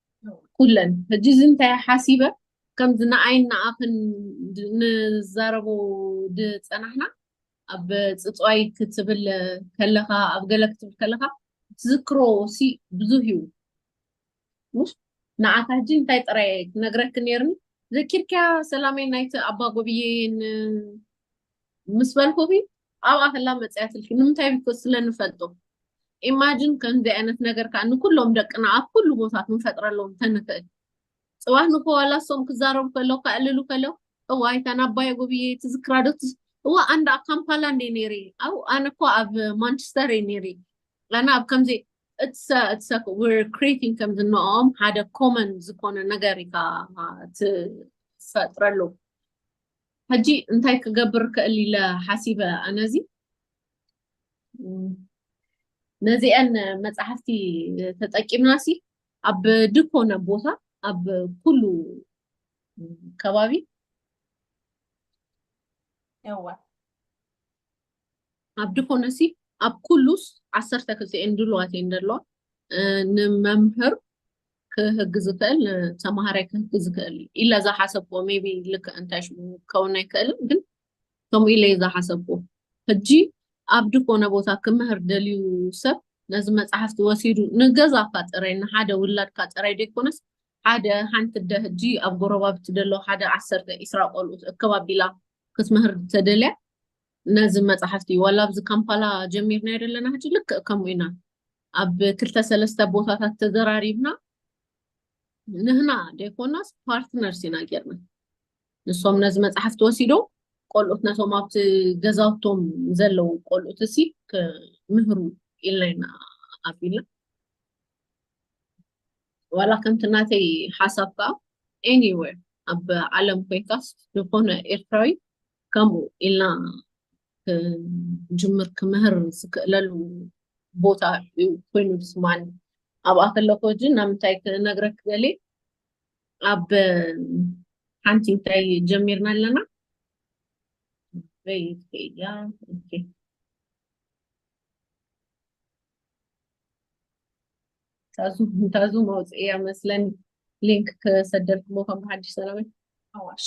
ኩለን ሕጂ እዚ እንታይ ሓሲበ ከምዚ ንኣይን ንኣኽን ንዛረቦ ዝፀናሕና ኣብ ፅፅዋይ ክትብል ከለኻ ኣብ ገለ ክትብል ከለኻ ትዝክሮ ሲ ብዙህ እዩ ሙሽ ንዓካ ሕጂ እንታይ ጥራይ ክነግረክ ነይርኒ ዘኪርካያ ሰላመይ ናይቲ ኣባ ጎብዬን ምስ በልኩኺ ኣብኣ ከላ መጺኣ ትልኪ ንምንታይ ቢኮዝ ስለ ንፈልጦ ኢማጅን ከምዚ ዓይነት ነገር ከዓ ንኩሎም ደቅና ኣብ ኩሉ ቦታ ክንፈጥረሎም ተንክእል ፅባህ ንክዋላ ሶም ክዛረቡ ከለው ከዕልሉ ከለው እዋ ኣይታን ኣባይ ጉብዬ ትዝክራዶ እዋ ኣንዳ ካምፓላ እንዴ ኔሪ ኣው ኣነ እኮ ኣብ ማንቸስተር እየ ኔሪ ኣነ ኣብ ከምዚ እትሰ እትሰ ር ክሬቲንግ ከምዚ ንኦም ሓደ ኮመን ዝኮነ ነገር ኢካ ትፈጥረሉ ሕጂ እንታይ ክገብር ክእል ኢለ ሓሲበ ኣነ እዚ ነዚኤን መጽሓፍቲ ተጠቂምና ሲ ኣብ ድኮነ ቦታ ኣብ ኩሉ ከባቢ እወ ኣብ ድኮነ ሲ ኣብ ኩሉስ ዓሰርተ ክልተ እየን ድልዋት እየን ዘለዋ ንመምህር ክህግ ዝክእል ንተምሃራይ ክህግ ዝክእል ኢለ ዝሓሰብዎ ሜቢ ልክዕ እንታይ ሽሙ ክኸውን ኣይክእልን ግን ከምኡ ኢለ ዝሓሰብዎ ሕጂ ኣብ ድኮነ ቦታ ክምህር ደልዩ ሰብ ነዚ መፅሓፍቲ ወሲዱ ንገዛካ ጥራይ ንሓደ ውላድካ ጥራይ ደይኮነስ ሓደ ሓንቲ ደ ሕጂ ኣብ ጎረባብቲ ደሎ ሓደ ዓሰርተ ኢስራ ቆልኡት እከባቢላ ክትምህር ተደልያ ነዚ መፅሓፍቲ ዋላ ኣብዚ ካምፓላ ጀሚርና የደለና ሕጂ ልክዕ ከምኡ ኢና ኣብ ክልተ ሰለስተ ቦታታት ተዘራሪብና ንህና ደይኮናስ ፓርትነርስ ኢና ጌርና ንሶም ነዚ መፅሓፍቲ ወሲዶም ቆልኡት ነቶም ኣብቲ ገዛውቶም ዘለዉ ቆልኡት እሲ ክምህሩ ኢልና ኢና ኣቢልና ዋላ ከምቲ ናተይ ሓሳብ ከዓ ኤኒዌር ኣብ ዓለም ኮይንካስ ዝኾነ ኤርትራዊ ከምኡ ኢልና ክጅምር ክምህር ዝክእለሉ ቦታ እዩ ኮይኑ ዝስማኒ ኣብኣ ከለኮ እጂ ናብ ምንታይ ክነግረክ ገሌ ኣብ ሓንቲ እንታይ ጀሚርና ኣለና በይት ከያ ኦኬ ታዙ ታዙ መውፅእያ መስለን ሊንክ ክሰደልክሞ ከም ብሓድሽ ሰላመይ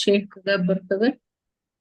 ሼር ክገብር ክብል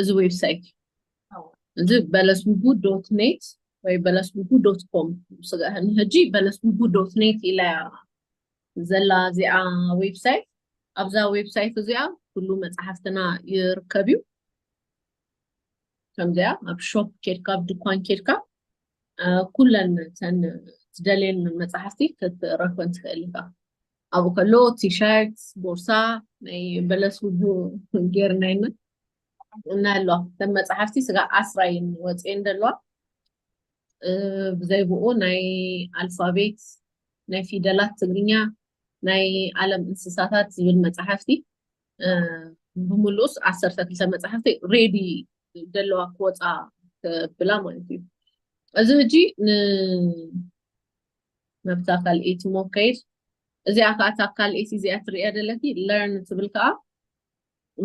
እዚ ዌብሳይት እዚ በለስቡቡ ዶት ኔት ወይ በለስቡቡ ዶት ኮም ንሕጂ በለስቡቡ ዶት ኔት ኢላያ ዘላ እዚኣ ዌብሳይት ኣብዛ ዌብሳይት እዚኣ ኩሉ መፅሓፍትና ይርከብ እዩ ከምዚኣ ኣብ ሾፕ ኬድካ ኣብ ድኳን ኬድካ ኩለን ተን ትደልየን መፅሓፍቲ ክትረክበን ትኽእል ኢኻ ኣብኡ ከሎ ቲሸርት ቦርሳ ናይ በለስ ውቡ ጌርና ኢና እና ኣለዋ ከም መፅሓፍቲ ስጋ ዓስራይን ወፅኤን ደለዋ ብዘይ ብኡ ናይ ኣልፋቤት ናይ ፊደላት ትግርኛ ናይ ዓለም እንስሳታት ዝብል መፅሓፍቲ ብምሉስ ዓሰርተ ክልተ መፅሓፍቲ ሬዲ ደለዋ ክወፃ ብላ ማለት እዩ እዚ ሕጂ ናብታ ካልኤቲ ሞ ከይድ እዚኣ ከኣ እታ ካልኤቲ እዚኣ ትርእያ ደለኪ ለርን ትብል ከኣ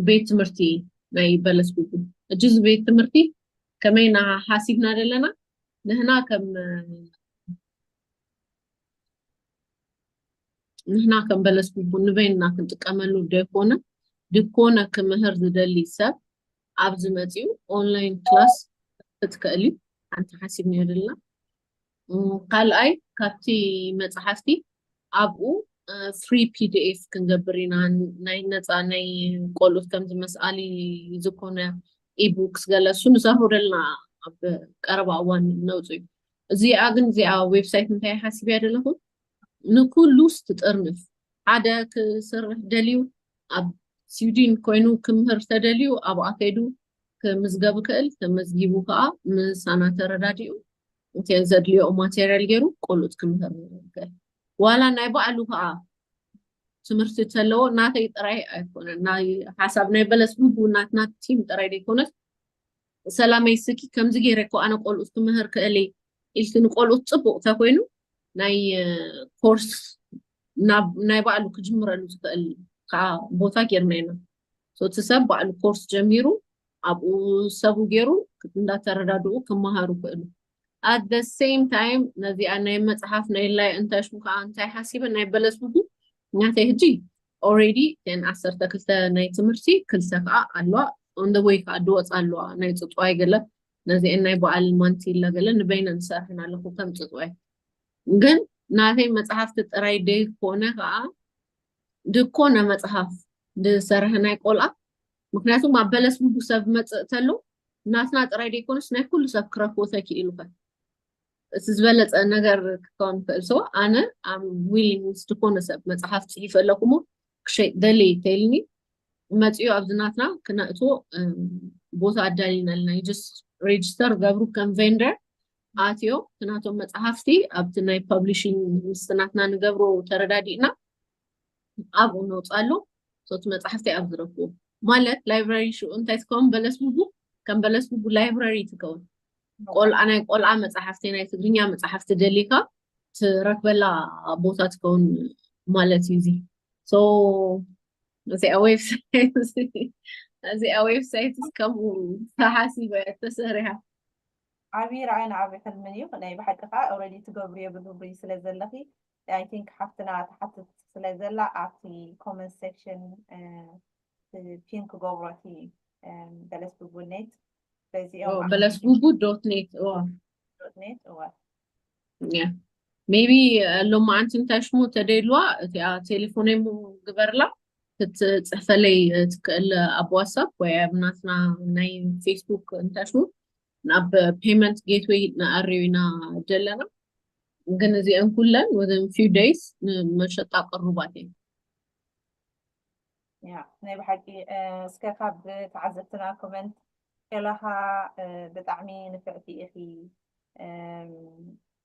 ቤት ትምህርቲ ናይ በለስ ጉጉ እጂ እዚ ቤት ትምህርቲ ከመይ ና ሓሲብና ደለና ንህና ከም ንሕና ከም በለስ ንበይንና ክንጥቀመሉ ደይኮነ ድኮነ ክምህር ዝደሊ ሰብ ኣብዚ መፅኡ ኦንላይን ክላስ ክትከእል እዩ ሓንቲ ሓሲብ ነይርልና ካልኣይ ካብቲ መፅሓፍቲ ኣብኡ ፍሪ ፒዲኤፍ ክንገብር ኢና ናይ ነፃ ናይ ቆልኡት ከምዚ መስኣሊ ዝኾነ ኢቡክስ ገለ እሱ ንዘርውደልና ኣብ ቀረባ እዋን ነውፅ እዩ እዚኣ ግን እዚኣ ዌብሳይት እንታይ ሓስብ እያ ደለኹ ንኩሉ ስትጥርንፍ ሓደ ክስርሕ ደልዩ ኣብ ስዊድን ኮይኑ ክምህር ተደልዩ ኣብኣ ከይዱ ክምዝገብ ይክእል ተመዝጊቡ ከዓ ምሳና ተረዳዲኡ እቲ ዘድልዮ ማቴሪያል ገይሩ ቆልኡት ክምህር ይክእል ዋላ ናይ ባዕሉ ከዓ ትምህርቲ ተለዎ ናተይ ጥራይ ኣይኮነን ናይ ሓሳብ ናይ በለስ ህቡ ናትና ቲም ጥራይ ዘይኮነስ ሰላመይ ስኪ ከምዚ ገይረ እኮ ኣነ ቆልኡት ክምህር ክእል ኢልኪ ንቆልኡት ፅቡቅ ተኮይኑ ናይ ኮርስ ናይ ባዕሉ ክጅምረሉ ዝክእል ከዓ ቦታ ጌርና ኢና ሶ እቲ ሰብ ባዕሉ ኮርስ ጀሚሩ ኣብኡ ሰቡ ገይሩ እንዳተረዳድኡ ክመሃሩ ክእሉ ኣት ዘ ሴም ታይም ነዚኣ ናይ መፅሓፍ ናይ ላይ እንታይ ሽሙ ከዓ እንታይ ሓሲበ ናይ በለስ ብጉ ናተይ ሕጂ ኦሬዲ ን ዓሰርተ ክልተ ናይ ትምህርቲ ክልተ ከዓ ኣለዋ ኦን ዘ ወይ ከዓ ድወፅ ኣለዋ ናይ ፅፅዋይ ገለ ነዚአን ናይ በዓል ማንቲላ ገለ ንበይነ ንሰርሐን ኣለኹ ከም ፅፅዋይ ግን ናተይ መፅሓፍቲ ጥራይ ደይኮነ ከዓ ድኮነ መጽሃፍ ድሰርሀ ናይ ቆልኣ ምክንያቱም ኣብ በለስ ቡቡ ሰብ መጽእ ተሉ ናትና ጥራይ ደይኮኑስ ናይ ኩሉ ሰብ ክረክቡ ተኪኢሉከ እቲ ዝበለጸ ነገር ክከውን ክእል ሰው ኣነ ኣም ዊሊንግ ድኮነ ሰብ መጽሃፍ ጽሒፈ ኣለኩሞ ክሸይ ደሊ ተይልኒ መጽዮ ኣብዚ ናትና ክነእትዎ ቦታ ኣዳሊናልና ዩ ጀስት ሬጅስተር ገብሩ ከም ቬንደር ኣትዮም ናቶም መፅሓፍቲ ኣብቲ ናይ ፐብሊሽን ምስቲ ናትና ንገብሮ ተረዳዲእና ኣብኡ ነውፃሉ ሶቲ መፅሓፍቲ ኣብ ዝረክቡ ማለት ላይብራሪ ሽኡ እንታይ ትከውን በለስ ብቡ ከም በለስ ብቡ ላይብራሪ ትከውን ቆልዓ ናይ ቆልዓ መፅሓፍቲ ናይ ትግርኛ መፅሓፍቲ ደሊካ ትረክበላ ቦታ ትከውን ማለት እዩ እዚ እዚኣ ዌብሳይት እዚኣ ዌብሳይት ከምኡ ተሓሲበ ተሰሪሓ ዓቢ ራእን ዓቢ ሕልምን እዩ ናይ ብሓቂ ከኣ ኦረዲ ትገብርዮ ብግብሪ ስለ ዘለኺ ኣይ ቲንክ ሓፍትና ትሓትት ስለ ዘላ ኣብቲ ኮመንት ሴክሽን ፒን ክገብሮ እቲ በለስ ቡቡ ኔት በዚኦም በለስ ቡቡ ዶት ኔት ዶት ኔት እወ ሜቢ ሎም ኣንቲ እንታይ ሽሙ ተደይልዋ እቲኣ ቴሌፎነይ ግበርላ ክትፅሕፈለይ ትክእል ኣብ ዋትሳፕ ወይ ኣብ ናትና ናይ ፌስቡክ እንታይ ሽሙ ናብ ፔመንት ጌትዌይ ንኣርዩ ኢና ዘለና ግን እዚአን ኩለን ወዘን ፊው ደይስ ንመሸጣ ቅሩባት እየን ያ ናይ ብሓቂ እስከ ካብ ተዓዘብትና ኮመንት ከለኻ ብጣዕሚ ንፍዕቲ ኢኺ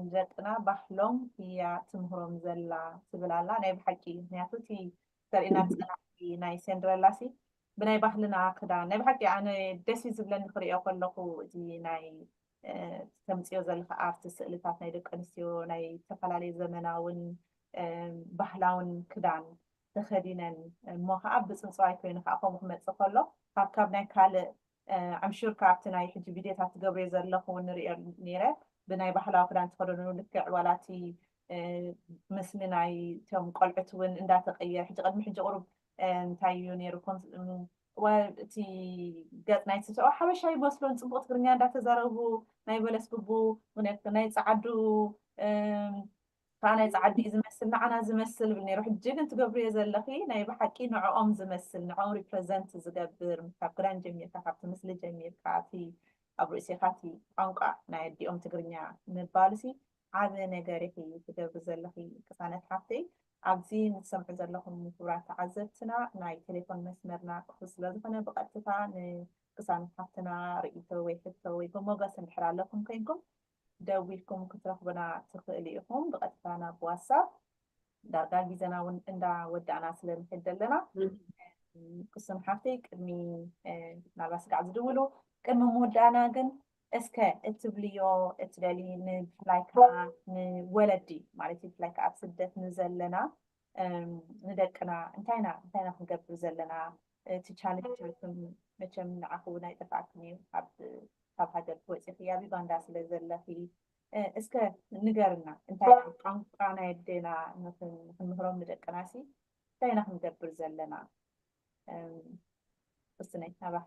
ንደቅና ባህሎም እያ ትምህሮም ዘላ ትብል ኣላ ናይ ብሓቂ እዩ ምክንያቱ እቲ ተርእና ፀናዕቲ ናይ ሴንድረላ ሲ ብናይ ባህልና ክዳን ናይ ብሓቂ ኣነ ደስ እዩ ዝብለኒ ክሪኦ ከለኩ እዚ ናይ ተምፅዮ ዘለካ ኣርት ስእልታት ናይ ደቂ ኣንስትዮ ናይ ዝተፈላለዩ ዘመናውን ባህላውን ክዳን ተኸዲነን እሞ ከዓ ብፅንፅዋይ ኮይኑ ከዓ ከምኡ ክመፅእ ከሎ ካብ ካብ ናይ ካልእ I'm sure ካብቲ ናይ ሕጂ ቪድዮታት ትገብርዮ ዘለኽ ውን ንርእዮ ኔረ ብናይ ባህላዊ ክዳን ተኸደኑ ልክዕ ዋላ እቲ ምስሊ ናይ እቶም ቆልዑት ውን እንዳተቀየረ ሕጂ ቅድሚ ሕጂ ቁሩብ እንታይ እዩ ኔሩ እቲ ገጽ ናይ ስብሰባ ሓበሻ ይመስሉን ጽቡቅ ትግርኛ እንዳተዛረቡ ናይ በለስ ግቡ ናይ ጸዓዱ እታ ናይ ጻዓዲ እዩ ዝመስል ናዓና ዝመስል ይብል ነይሩ ሕጂ ግን ትገብርዮ ዘለኺ ናይ ብሓቂ ንዖኦም ዝመስል ንዖኦም ሪፕረዘንት ዝገብር ካብ ክዳን ጀሚርካ ካብቲ ምስሊ ጀሚርካ እቲ ኣብ ርእሲኻ እቲ ቋንቋ ናይ ኣዲኦም ትግርኛ ምባልሲ ዓቢ ነገር ኢኺ ትገብሪ ዘለኺ ቅሳነት ሓፍተይ ኣብዚ ንትሰምዑ ዘለኹም ክብራት ተዓዘብትና ናይ ቴሌፎን መስመርና ክፉት ስለ ዝኾነ ብቐጥታ ንቅሳነት ሓፍትና ርእይቶ ወይ ሕቶ ወይ ብሞገስ እንድሕር ኣለኩም ኮይንኩም ደዊልኩም ክትረኽቡና ትኽእሉ ኢኹም ብቐጥታ ናብ ዋትሳፕ ዳርጋ ግዜና እውን እንዳ ወዳእና ስለ ንሕድ ዘለና ክሱን ሓፍተይ ቅድሚ ናብራ ስጋዕ ዝድውሉ ቅድሚ ምውዳእና ግን እስከ እትብልዮ እትደሊ ንብፍላይ ከዓ ንወለዲ ማለት እዩ ብፍላይ ከዓ ኣብ ስደት ንዘለና ንደቅና እንታይ ኢና እንታይ ኢና ክንገብር ዘለና እቲ ቻለንጅ ይኹን መቸም ንዓኹ እውን ኣይጠፍኣክን እዩ ካብ ሃገር ክወፂኺ ኣብ ዩጋንዳ ስለ ዘለኺ እስከ ንገርና እንታይ ቋንቋ ናይ ኣዴና ንክንምህሮም ንደቅና ሲ እንታይ ኢና ክንገብር ዘለና እስነይ ናባኺ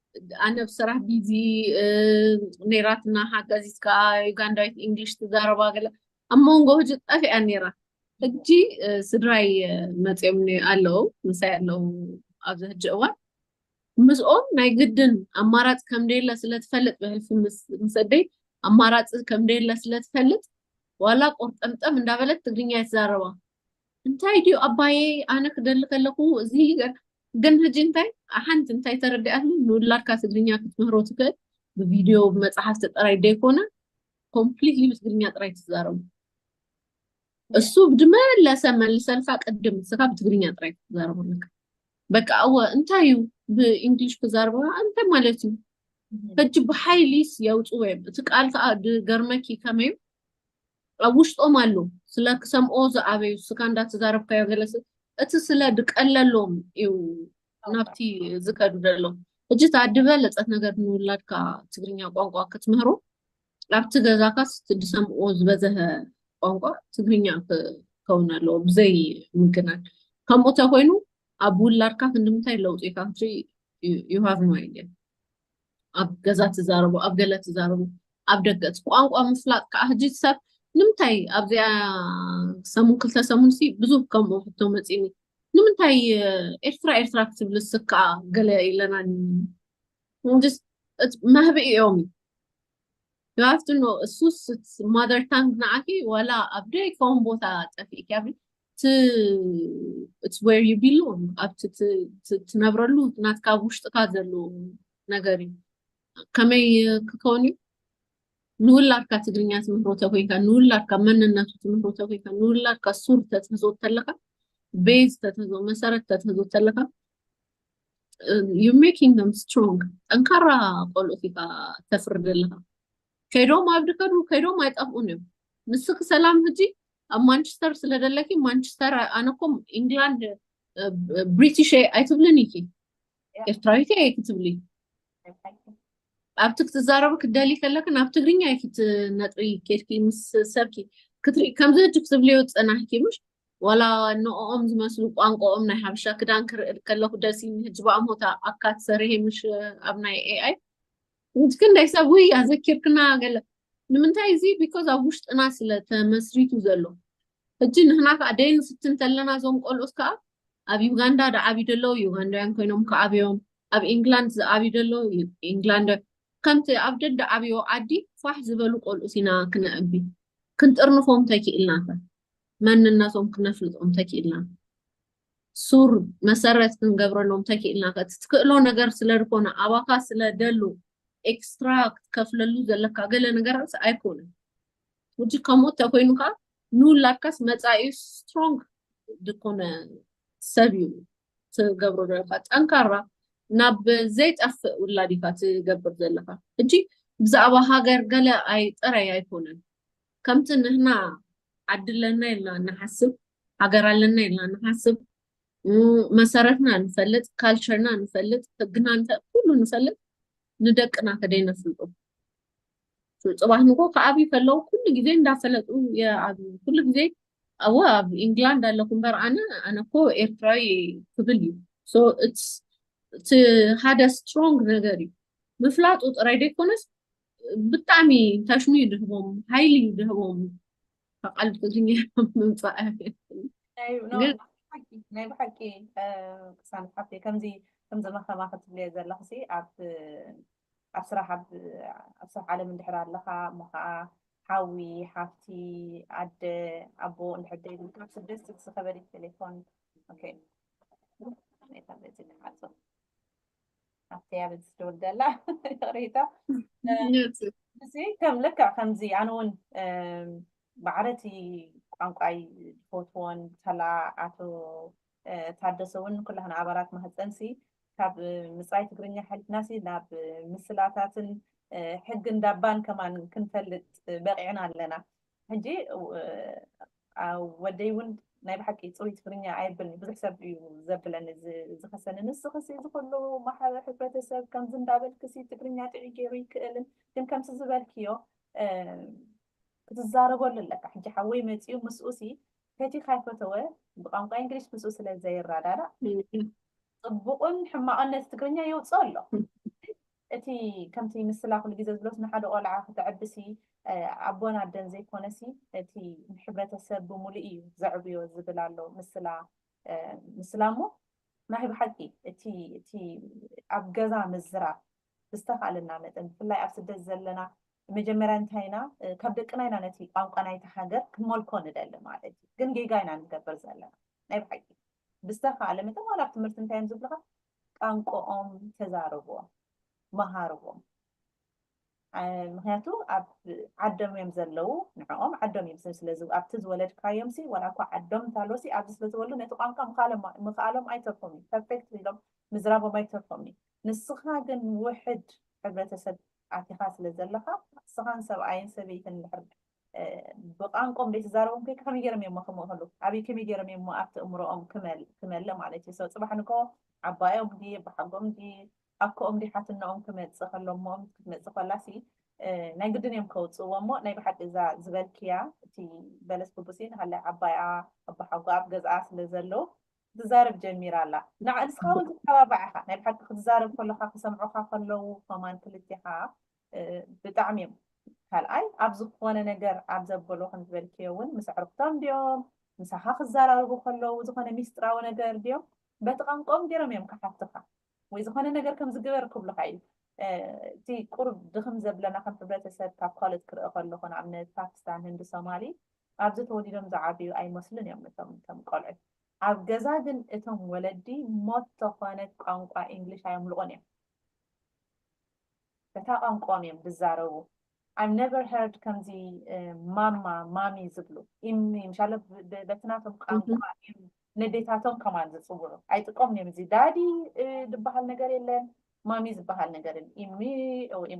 ኣነ ብስራሕ ቢዚ ነይራትና ሓጋዚት ከዓ ዩጋንዳዊት ኢንግሊሽ ትዛረባ ገለ ኣብ መንጎ ህጂ ጠፊኣ ነይራ ሕጂ ስድራይ መፅኦም ኣለዉ ምሳይ ኣለዉ ኣብዚ ሕጂ እዋን ምስኦም ናይ ግድን ኣማራፂ ከም ደየለ ስለትፈልጥ ብሕልፊ ምስ ኣደይ ኣማራፂ ከም ደየለ ስለትፈልጥ ዋላ ቆርጠምጠም እንዳበለት ትግርኛ ይትዛረባ እንታይ ድዩ ኣባየ ኣነ ክደሊ ከለኹ እዚ ግን ሕጂ እንታይ ሓንቲ እንታይ ተረዲኣትኒ ንውላድካ ትግርኛ ክትምህሮ ትኽእል ብቪድዮ ብመፅሓፍቲ ጥራይ ዘይኮነ ኮምፕሊትሊ ብትግርኛ ጥራይ ትዛረቡ እሱ ብድመለሰ መልሰልካ ቅድም ንስኻ ብትግርኛ ጥራይ ክትዛረቡ ኣለካ በቃ እወ እንታይ እዩ ብእንግሊሽ ክዛረቡ እንታይ ማለት እዩ ሕጂ ብሓይሊስ የውፅዎ እዮም እቲ ቃል ከዓ ገርመኪ ከመይ ኣብ ውሽጦም ኣሎ ስለ ክሰምኦ ዝኣበዩ እስካ እንዳ ተዛረብካዮ ገለ እቲ ስለ ድቀለሎም እዩ ናብቲ ዝከዱ ደሎ እጅ ታድበ ለጸት ነገር ንውላድካ ትግርኛ ቋንቋ ክትምህሮ ኣብቲ ገዛካ ድሰምኦ ዝበዘሀ ቋንቋ ትግርኛ ክከውን ኣለዎ ብዘይ ምግናን ከምኡ ተኮይኑ ኣብ ውላድካ ክንድምታይ ለውጢካ ክትርኢ ዩ ሃቭ ኖ ኣይዲያ ኣብ ገዛ ትዛረቡ ኣብ ገለ ትዛረቡ ኣብ ደገ እቲ ቋንቋ ምፍላጥ ከዓ ህጂ ሰብ ንምንታይ ኣብዚኣ ሰሙን ክልተ ሰሙን ሲ ብዙ ከምኡ ሕቶ መፂኒ ንምንታይ ኤርትራ ኤርትራ ክትብል ስከዓ ገለ ኢለና መህቢ እዮም You have to know እሱስ ማዘር ታንግ ንዓኪ ዋላ ኣብ ደይከውን ቦታ ጠፊእኪ it's where you belong ኣብቲ ትነብረሉ ናትካ ኣብ ውሽጥካ ዘሎ ነገር እዩ ከመይ ክከውን እዩ ንውላድካ ትግርኛ ትምህሮ ተኮይንካ ንውላድካ መንነቱ ትምህሮ ተኮይንካ ንውላድካ ሱር ተትህዞ ተለካ ቤዝ ተትህዞ መሰረት ተትህዞ ተለካ ዩ ሜኪንግ ደም ስትሮንግ ጠንካራ ቆልኡት ኢካ ተፍሪ ዘለካ ከይዶም ኣብ ድከዱ ከይዶም ኣይጠፍኡን እዮም ንስኪ ሰላም ህጂ ኣብ ማንቸስተር ስለ ደለኪ ማንቸስተር ኣነኮም ኢንግላንድ ብሪቲሽ ኣይትብልን ኢኪ ኤርትራዊት እየ ክትብሊ ኣብቲ ክትዛረቡ ክትደሊ ከለኪ ናብ ትግርኛ እዩ ክትነጥቢ ኬድኪ ምስ ሰብኪ ክትርኢ ከምዚ ህጂ ክትብልዮ ፀናሕኪ ምሽ ዋላ ንኦም ዝመስሉ ቋንቋኦም ናይ ሓበሻ ክዳን ክርኢ ከለኩ ደሲ ህጂ ብኣሞታ ኣካት ሰርሄ ምሽ ኣብ ናይ ኤኣይ ምስ ክንደይ ሰብ ውይ ኣዘኪርክና ገለ ንምንታይ እዚ ቢኮዝ ኣብ ውሽጥና ስለ ተመስሪቱ ዘሎ ሕጂ ንህና ከዓ ደይ ንፍትን ተለና እዞም ቆልኡት ከዓ ኣብ ዩጋንዳ ድዓብዩ ደለዉ ዩጋንዳውያን ኮይኖም ክዓብዮም ኣብ ኢንግላንድ ዝዓብዩ ደለዉ ኢንግላንድ ከምቲ ኣብ ደደ ዓብዮ ዓዲ ፋሕ ዝበሉ ቆልኡት ኢና ክነዕቢ ክንጥርንፎም ተኪእልና ከ መንነቶም ክነፍልጦም ተኪእልና ሱር መሰረት ክንገብረሎም ተኪእልና ከ ትክእሎ ነገር ስለ ዝኾነ ኣባካ ስለ ደሉ ኤክስትራ ክትከፍለሉ ዘለካ ገለ ነገራት ኣይኮነን ውጂ ከምኡ ተኮይኑ ከዓ ንውላድካስ መፃኢ ስትሮንግ ዝኾነ ሰብ እዩ ትገብሮ ዘለካ ጠንካራ ናብ ዘይጠፍእ ውላድ ኢካ ትገብር ዘለካ እጂ ብዛዕባ ሃገር ገለ ኣይ ጥራይ ኣይኮነን ከምቲ ንህና ዓድለና ኢልና ንሓስብ ሃገር ኣለና ኢልና ንሓስብ፣ መሰረትና ንፈልጥ፣ ካልቸርና ንፈልጥ፣ ህግና ንፈልጥ፣ ኩሉ ንፈልጥ፣ ንደቅና ከደይ ነፍልጡ? ፅባሕ ንጎ ከዓብዩ ከለዉ ኩሉ ግዜ እንዳፈለጡ ይዓብዩ። ኩሉ ግዜ ኣወ ኣብ ኢንግላንድ ኣለኹ እምበር ኣነ ኣነ እኮ ኤርትራዊ ክብል እዩ። ሶ ኢትስ እቲ ሓደ ስትሮንግ ነገር እዩ። ምፍላጡ ጥራይ ዘይኮነስ ብጣዕሚ ታሽሙ እዩ ድህቦም፣ ሓይሊ እዩ ድህቦም። ተቐልጥዙ ምምፃእ ናይ ብሓቂ ቅሳን ሓፍቴ ከምዚ ከምዚ መኸማ ክትብልየ ዘለኹ ሲ ኣብ ኣብ ስራሕ ኣብ ስራሕ ዓለም እንድሕር ኣለኻ እሞ ከዓ ሓዊ ሓፍቲ ኣደ ኣቦ እንድሕር ደይብልካ ኣብ ስደት ዝኸበደት ቴሌፎን ኦኬ ኣብቲ ኣብ ዝድውል ደላ ይቕሬታ እዚ ከም ልክዕ ከምዚ ኣነ እውን ማዕረቲ ቋንቋይ ዝፈትዎን ተላ ኣቶ ታደሰ እውን ኩላህና ኣባላት ማህፀንሲ ካብ ምፅራይ ትግርኛ ሓሊፍናሲ ናብ ምስላታትን ሕግን ዳባን ከማን ክንፈልጥ በቂዕና ኣለና ሕጂ ወደይ ውን ናይ ብሓቂ ጽሩይ ትግርኛ ኣየብልን ብዙሕ ሰብ እዩ ዘብለኒ ዝኸሰኒ ንስኽሲ እዚ ኩሉ ማሕበ ሕብረተሰብ ከምዚ እንዳበልክሲ ትግርኛ ጥዑይ ገይሩ ይክእልን ግን ከምሲ ዝበልክዮ ክትዛረበሉ ኣለካ ሕጂ ሓወይ መጺኡ ምስኡሲ ፈቲኻ ይፈተወ ብቋንቋ እንግሊሽ ምስኡ ስለ ዘይረዳዳእ ጽቡቕን ሕማቕን ነቲ ትግርኛ የውጽኦ ኣሎ እቲ ከምቲ ምስላ ኩሉ ግዜ ዝብሎስ ንሓደ ቆልዓ ክተዕብሲ ኣቦን ኣደን ዘይኮነሲ እቲ ሕብረተሰብ ብምሉእ እዩ ዘዕብዮ ዝብል ኣሎ ምስላ ምስላ እሞ ናይ ብሓቂ እቲ እቲ ኣብ ገዛ ምዝራብ ብዝተኻእለና መጠን ብፍላይ ኣብ ስደት ዘለና መጀመርያ እንታይ ኢና ካብ ደቅና ኢና ነቲ ቋንቋ ናይቲ ሃገር ክንመልኮ ንደሊ ማለት እዩ ግን ጌጋ ኢና ንገብር ዘለና ናይ ብሓቂ ብዝተኻእለ መጠን ዋላ ኣብ ትምህርቲ እንታይ እዮም ዝብልኻ ቃንቆኦም ተዛርቦም መሃርዎም ምክንያቱ ኣብ ዓዶም እዮም ዘለዉ ንዕኦም ዓዶም እዮም ስለ ኣብቲ ዝወለድካዮም ሲ ዋላ እኳ ዓዶም እንተሃለዎ ሲ ኣብዚ ስለ ዝወሉ ነቲ ቋንቋ ምኽኣሎም ኣይተርፎም እዩ ፐርፌክት ኢሎም ምዝራቦም ኣይተርፎም እዩ ንስኻ ግን ውሕድ ሕብረተሰብ ኣቲኻ ስለ ዘለኻ ንስኻን ሰብኣይን ሰበይትን ድሕር ብቛንቆም ደይትዛረቦም ኮይካ ከመይ ገይሮም እዮሞ ክምእክሉ ኣብይ ከመይ ገይሮም እዮሞ ኣብቲ እምሮኦም ክመለ ማለት እዩ ሰው ፅባሕ ንግሆ ዓባዮም ድዪ ኣቦሓጎኦም ድዪ ኣኮኦም ድዪ ሓትነኦም ክመፅእ ከሎ እሞኦም ክትመፅእ ከላ ሲ ናይ ግድን እዮም ከውፅእዎ እሞ ናይ ብሓቂ እዛ ዝበልክያ እቲ በለስ ብቡሲ ንሃላይ ዓባይኣ ኣቦሓጎ ኣብ ገዝኣ ስለ ዘሎ ትዛረብ ጀሚራ ኣላ ንስኻ እውን ትተባባዕ ኢኻ ናይ ብሓቂ ክትዛረብ ከለካ ክሰምዑካ ከለዉ ከማን ክልቴኻ ብጣዕሚ እዮም ካልኣይ ኣብ ዝኾነ ነገር ኣብ ዘበሎ ከምዝበልክዮ እውን ምስ ኣዕርኽቶም ድዮም ምሳኻ ክዘራረቡ ከለዉ ዝኾነ ሚስጥራዊ ነገር ድዮም በቲ ቋንቋኦም ገይሮም እዮም ክሓትኻ ወይ ዝኾነ ነገር ከም ዝግበር ክብሉካ እዩ እቲ ቁርብ ድኽም ዘብለና ከም ሕብረተሰብ ካብ ካልኦት ክርኢ ከለኹ ንኣብነት ፓኪስታን ህንዲ ሶማሊ ኣብዚ ተወሊዶም ዝዓብዩ ኣይመስሉን እዮም እቶም እቶም ቆልዑ ኣብ ገዛ ግን እቶም ወለዲ ሞት ተኾነ ቋንቋ እንግሊሽ ኣየምልቑን እዮም በታ ቋንቋኦም እዮም ዝዛረቡ I've never heard ከምዚ ማማ ማሚ ዝብሉ ምሻለ በቲ ናቶም ቋንቋ ነዴታቶም ከማን ዝፅውዑ ኣይጥቀሙን እዮም እዚ ዳዲ ዝበሃል ነገር የለን ማሚ ዝበሃል ነገር ኢሚ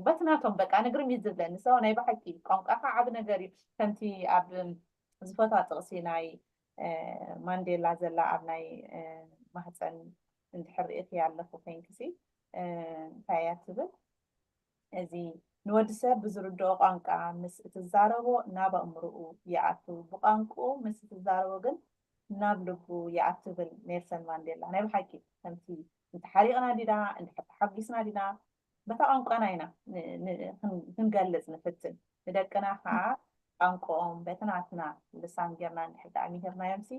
በቲ ናቶም በቃ ንግርም እዩ ዝብለኒ ሰው ናይ ብሓቂ ቋንቋካ ዓብ ነገር እዩ ከምቲ ኣብ ዝፈትዋ ጥቕሲ ናይ ማንዴላ ዘላ ኣብ ናይ ማህፀን እንድሕር ርኢኽያ ኣለኹ ኮይንኪሲ እንታይ እያ ትብል እዚ ንወዲ ሰብ ብዝርድኦ ቋንቋ ምስ እትዛረቦ ናብ ኣእምሮኡ ይኣቱ ብቋንቁኡ ምስ እትዛረቦ ግን ናብ ልቡ ይኣትብል ኔልሰን ማንዴላ ናይ ብሓቂ ከምቲ እንተሓሪቕና ዲና እንድሕር ተሓጒስና ዲና በታ ቋንቋና ኢና ክንገልፅ ንፍትን ንደቅና ከዓ ቋንቋኦም በቲ ናትና ልሳን ጌርና እንድሕር ዳኣ ምሂርናዮምሲ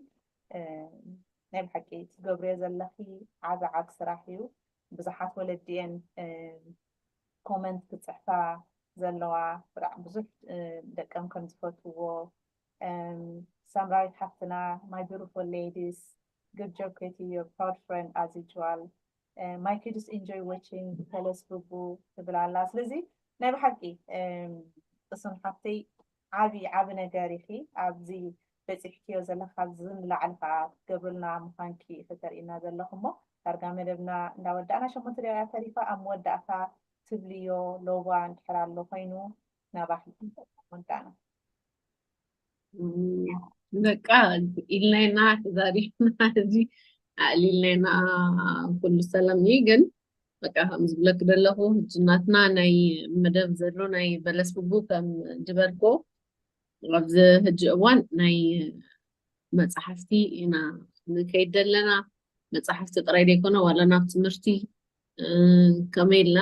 ናይ ብሓቂ ትገብርዮ ዘለኺ ዓብ ዓብ ስራሕ እዩ ብዙሓት ወለዲ እየን ኮመንት ክፅሕፋ ዘለዋ ብጣዕ ብዙሕ ደቀም ከም ዝፈትዎ ሳምራዊት ሓፍትና ማይ ቢሩፉል ሌዲስ good job Katie your proud friend as usual uh, my kids enjoy watching ተለስ ብቡ ትብል ኣላ ስለዚ ናይ ብሓቂ እሱን ሓፍተይ ዓቢ ዓቢ ነገር ኢኺ ኣብዚ በጺሕክዮ ዘለኻ ካብዚ ንላዕሊ ከኣ ክትገብርልና ምዃንኪ ኢኺ ተርእይና ዘለኺ እሞ ዳርጋ መደብና እንዳ ወዳእና ሸሞንተ ደቂቃ እያ ተሪፋ ኣብ መወዳእታ ትብልዮ ሎባ እንድሕር ኣሎ ኮይኑ ናባኺ ወዳእና በቃ ኢልናይና ተዛሪብና እዚ ኣዕሊልናይና ኩሉ ሰላም እዩ ግን በቃ ከም ዝብለኪ ዘለኹ ሕጂ ናትና ናይ መደብ ዘሎ ናይ በለስ ብቡ ከም ድበርኮ ኣብዚ ሕጂ እዋን ናይ መፅሓፍቲ ኢና ንከይድ ዘለና መፅሓፍቲ ጥራይ ዘይኮነ ዋላ ናብ ትምህርቲ ከመይ ኢልና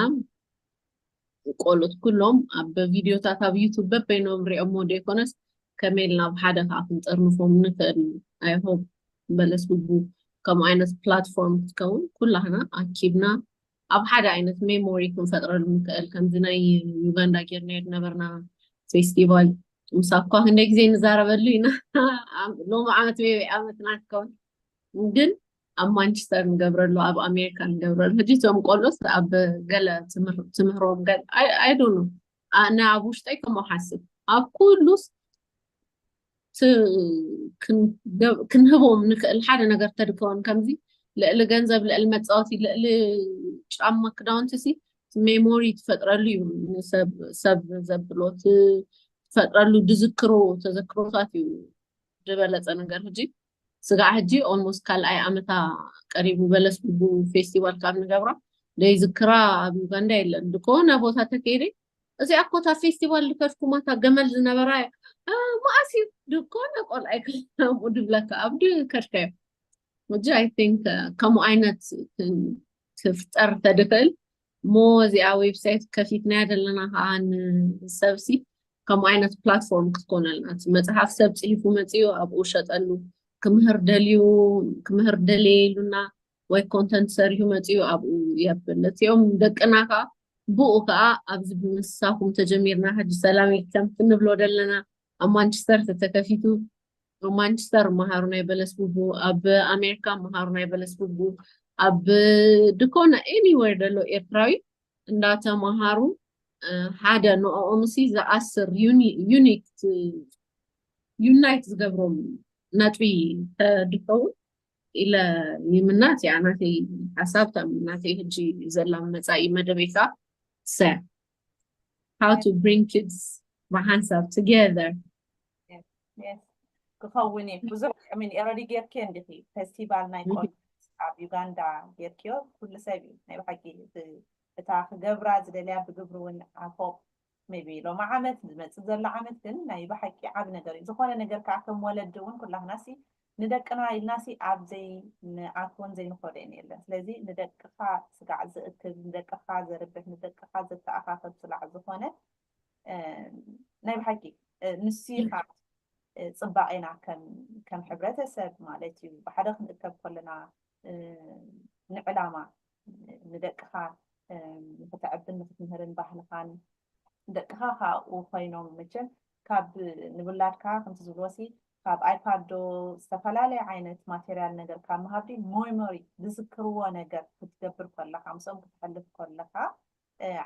ቆልኡት ኩሎም ኣብ ቪድዮታት ኣብ ዩቱብ በበይኖም ሪኦሞ ደይኮነስ ከመይ ኢልና ኣብ ሓደ ከዓ ክንጥርንፎም ንኽእል ኣይሆብ በለስ ብቡ ከምኡ ዓይነት ፕላትፎርም ክትከውን ኩላህና ኣኪብና ኣብ ሓደ ዓይነት ሜሞሪ ክንፈጥረሉ ንኽእል ከምዚ ናይ ዩጋንዳ ጌርና ነበርና ፌስቲቫል ምስ ኣኳ ክንደይ ግዜ ንዛረበሉ ኢና ሎሚ ዓመት ሜበይ ዓመትና ትከውን ግን ኣብ ማንቸስተር ንገብረሉ ኣብ ኣሜሪካ ንገብረሉ ሕጂ እቶም ቆልኦስ ኣብ ገለ ትምህሮም ገ ኣይዶኑ ኣነ ኣብ ውሽጠይ ከምኡ ሓስብ ኣብ ኩሉስ ክንህቦም ንክእል ሓደ ነገር ተድከወን ከምዚ ልዕሊ ገንዘብ ልዕሊ መፃወቲ ልዕሊ ጫማ ክዳውንቲ ሲ ሜሞሪ ትፈጥረሉ እዩ ሰብ ዘብሎ ትፈጥረሉ ዝዝክሮ ተዘክሮታት እዩ ዝበለፀ ነገር ሕጂ ስጋዕ ሕጂ ኦልሞስት ካልኣይ ኣመታ ቀሪቡ በለስ ድቡ ፌስቲቫል ካብ ንገብራ ዘይዝክራ ኣብ ዩጋንዳ የለን ድኮነ ቦታ ተከይደ እዚኣ እኮ እታ ፌስቲቫል ዝከድኩማ እታ ገመል ዝነበራ እያ መኣስ እዩ ድኮነ ቆልኣይ ከምኡ ድብለካ ኣብ ከድካዮ ሕጂ ኣይ ቲንክ ከምኡ ዓይነት ክፍጠር ተድክእል እሞ እዚኣ ዌብሳይት ከፊትናያ ዘለና ከዓ ንሰብሲ ከምኡ ዓይነት ፕላትፎርም ክትኮነልና እቲ መፅሓፍ ሰብ ፅሒፉ መፅኡ ኣብኡ ሸጠሉ ክምህር ደልዩ ክምህር ደልየ ኢሉና ወይ ኮንተንት ሰሪሑ መፅኡ ኣብኡ የብል እቲኦም ደቅና ከዓ ብኡ ከዓ ኣብዚ ብምሳኹም ተጀሚርና ሕጂ ሰላም ኢልከም ክንብሎ ደለና ኣብ ማንቸስተር ተተከፊቱ ኣብ ማንችስተር መሃሩ ናይ በለስ ቡቡ ኣብ ኣሜሪካ መሃሩ ናይ በለስ ቡቡ ኣብ ድኮነ ኤኒዌር ዘሎ ኤርትራዊ እንዳተመሃሩ ሓደ ንኦኦምሲ ዝኣስር ዩኒክ ዩናይት ዝገብሮም ነጥቢ ተድኸውን ኢለ ይምናት እያ ናተይ ሓሳብ ከም ናተይ ህጂ ዘላ መፃኢ መደበይካ ሰ how to bring kids ብሓንሳብ together ክኸውን እዩ ብዙሕ ሚን ኤረዲ ጌርኪ እንዲኺ ፌስቲቫል ናይ ቆ ኣብ ዩጋንዳ ጌርክዮ ኩሉ ሰብ እዩ ናይ ብሓቂ እታ ክገብራ ዝደልያ ብግብሪ እውን ኣፎቅ ቢ ሎማ ዓመት ዝመፅእ ዘሎ ዓመት ግን ናይ ብሓቂ ዓብ ነገር እዩ ዝኾነ ነገር ከዓ ከም ወለዲ እውን ኩላክናሲ ንደቅና ኢልናሲ ኣብ ዘይንኣትዎን ዘይንኸዶን የለን። ስለዚ ንደቅኻ ስጋዕ ዝእክብ፣ ንደቅኻ ዘርብሕ፣ ንደቅኻ ዘተኣኻኸብ ስላዕ ዝኾነ ናይ ብሓቂ ንሱ ኢኻ ጽባቄና ከም ሕብረተሰብ ማለት እዩ። ብሓደ ክንእከብ ከለና ንዕላማ ንደቅኻ ንክተዕብን ንክትምህርን ባህልኻን ደቅኻ ካብኡ ኮይኖም መቸም ካብ ንውላድካ ከምቲ ዝብልዎሲ ካብ ኣይፓድ ዶ ዝተፈላለየ ዓይነት ማቴርያል ነገር ካብ ምሃብ ድዩ ሞይሞሪ ዝዝክርዎ ነገር ክትገብር ከለኻ ምስኦም ክትሕልፍ ከለኻ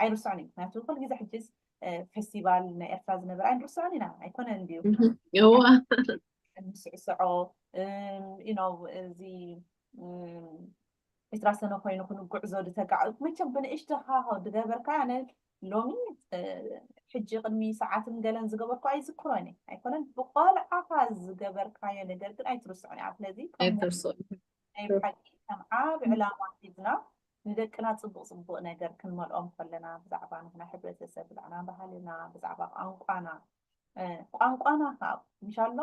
ኣይርስዑን እዩ ምክንያቱ ኩሉ ግዜ ሕጂስ ፌስቲቫል ናይ ኤርትራ ዝነበረ ኣይንርስዖን ኢና ኣይኮነን ድዩ እንስዕስዖ እዚ ዕስራ ሰነ ኮይኑ ክንጉዕዞ ድተጋዕዙ መቸም ብንእሽቶ ሃሆ ድገበርካ ኣነ ሎሚ ሕጂ ቅድሚ ሰዓትን ገለን ዝገበርኩ ኣይዝክሮን እየ ኣይኮነን ብቆልዓኻ ዝገበርካዮ ነገር ግን ኣይትርስዑን እያ ስለዚ ናይ ብሓቂ ከም ዓብ ዕላማ ሒዝና ንደቅና ፅቡቅ ፅቡቅ ነገር ክንመልኦም ከለና ብዛዕባ ንሕና ሕብረተሰብ ብዛዕና ባህልና ብዛዕባ ቋንቋና ቋንቋና ካብ ምሻሎ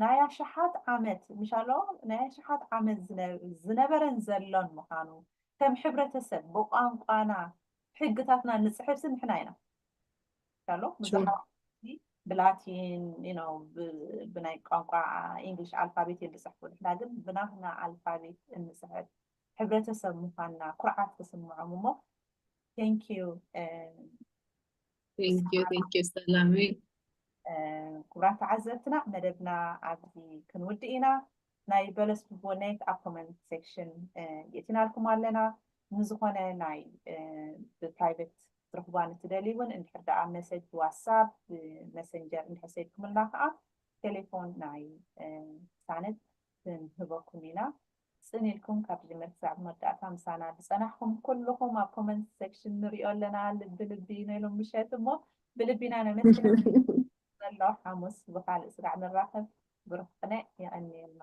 ናይ ኣሽሓት ዓመት ምሻሎ ናይ ኣሽሓት ዓመት ዝነበረን ዘሎን ምዃኑ ከም ሕብረተሰብ ብቋንቋና ሕግታትና ንፅሕፍሲ ንሕና ኢና ምሻሎ ብዙሓት ብላቲን ነው ብናይ ቋንቋ ኢንግሊሽ ኣልፋቤት እዮም ዝፅሕፉ ንሕና ግን ብናትና ኣልፋቤት እንፅሕፍ ሕብረተሰብ ምኳንና ኩርዓት ክስምዖም እሞ ቴንኪዩ ክቡራት ተዓዘብትና መደብና ኣብዚ ክንውድእ ኢና ናይ በለስ ብቦኔት ኣብ ኮመንት ሴክሽን የእቲናልኩም ኣለና ንዝኾነ ናይ ብፕራይቬት ትረኽቡዋ ንትደልዩ እውን እንድሕር ደኣ መሰጅ ብዋትሳፕ ብመሰንጀር እንድሕር ሰድኩምልና ከዓ ቴሌፎን ናይ ሳነት ክንህበኩም ኢና ጽን ኢልኩም ካብ ዝጅምር ክሳብ መወዳእታ ምሳና ዝጸናሕኩም ኩሉኹም ኣብ ኮመንት ሰክሽን ንሪኦ ኣለና ልቢ ልቢ ን ሎም ምሸት እሞ ብልቢ ኢና ነመስግነኩም ዘሎ ሓሙስ ብካልእ ስጋዕ ንራኸብ ብሩኽ ቅነ የቐንየልና።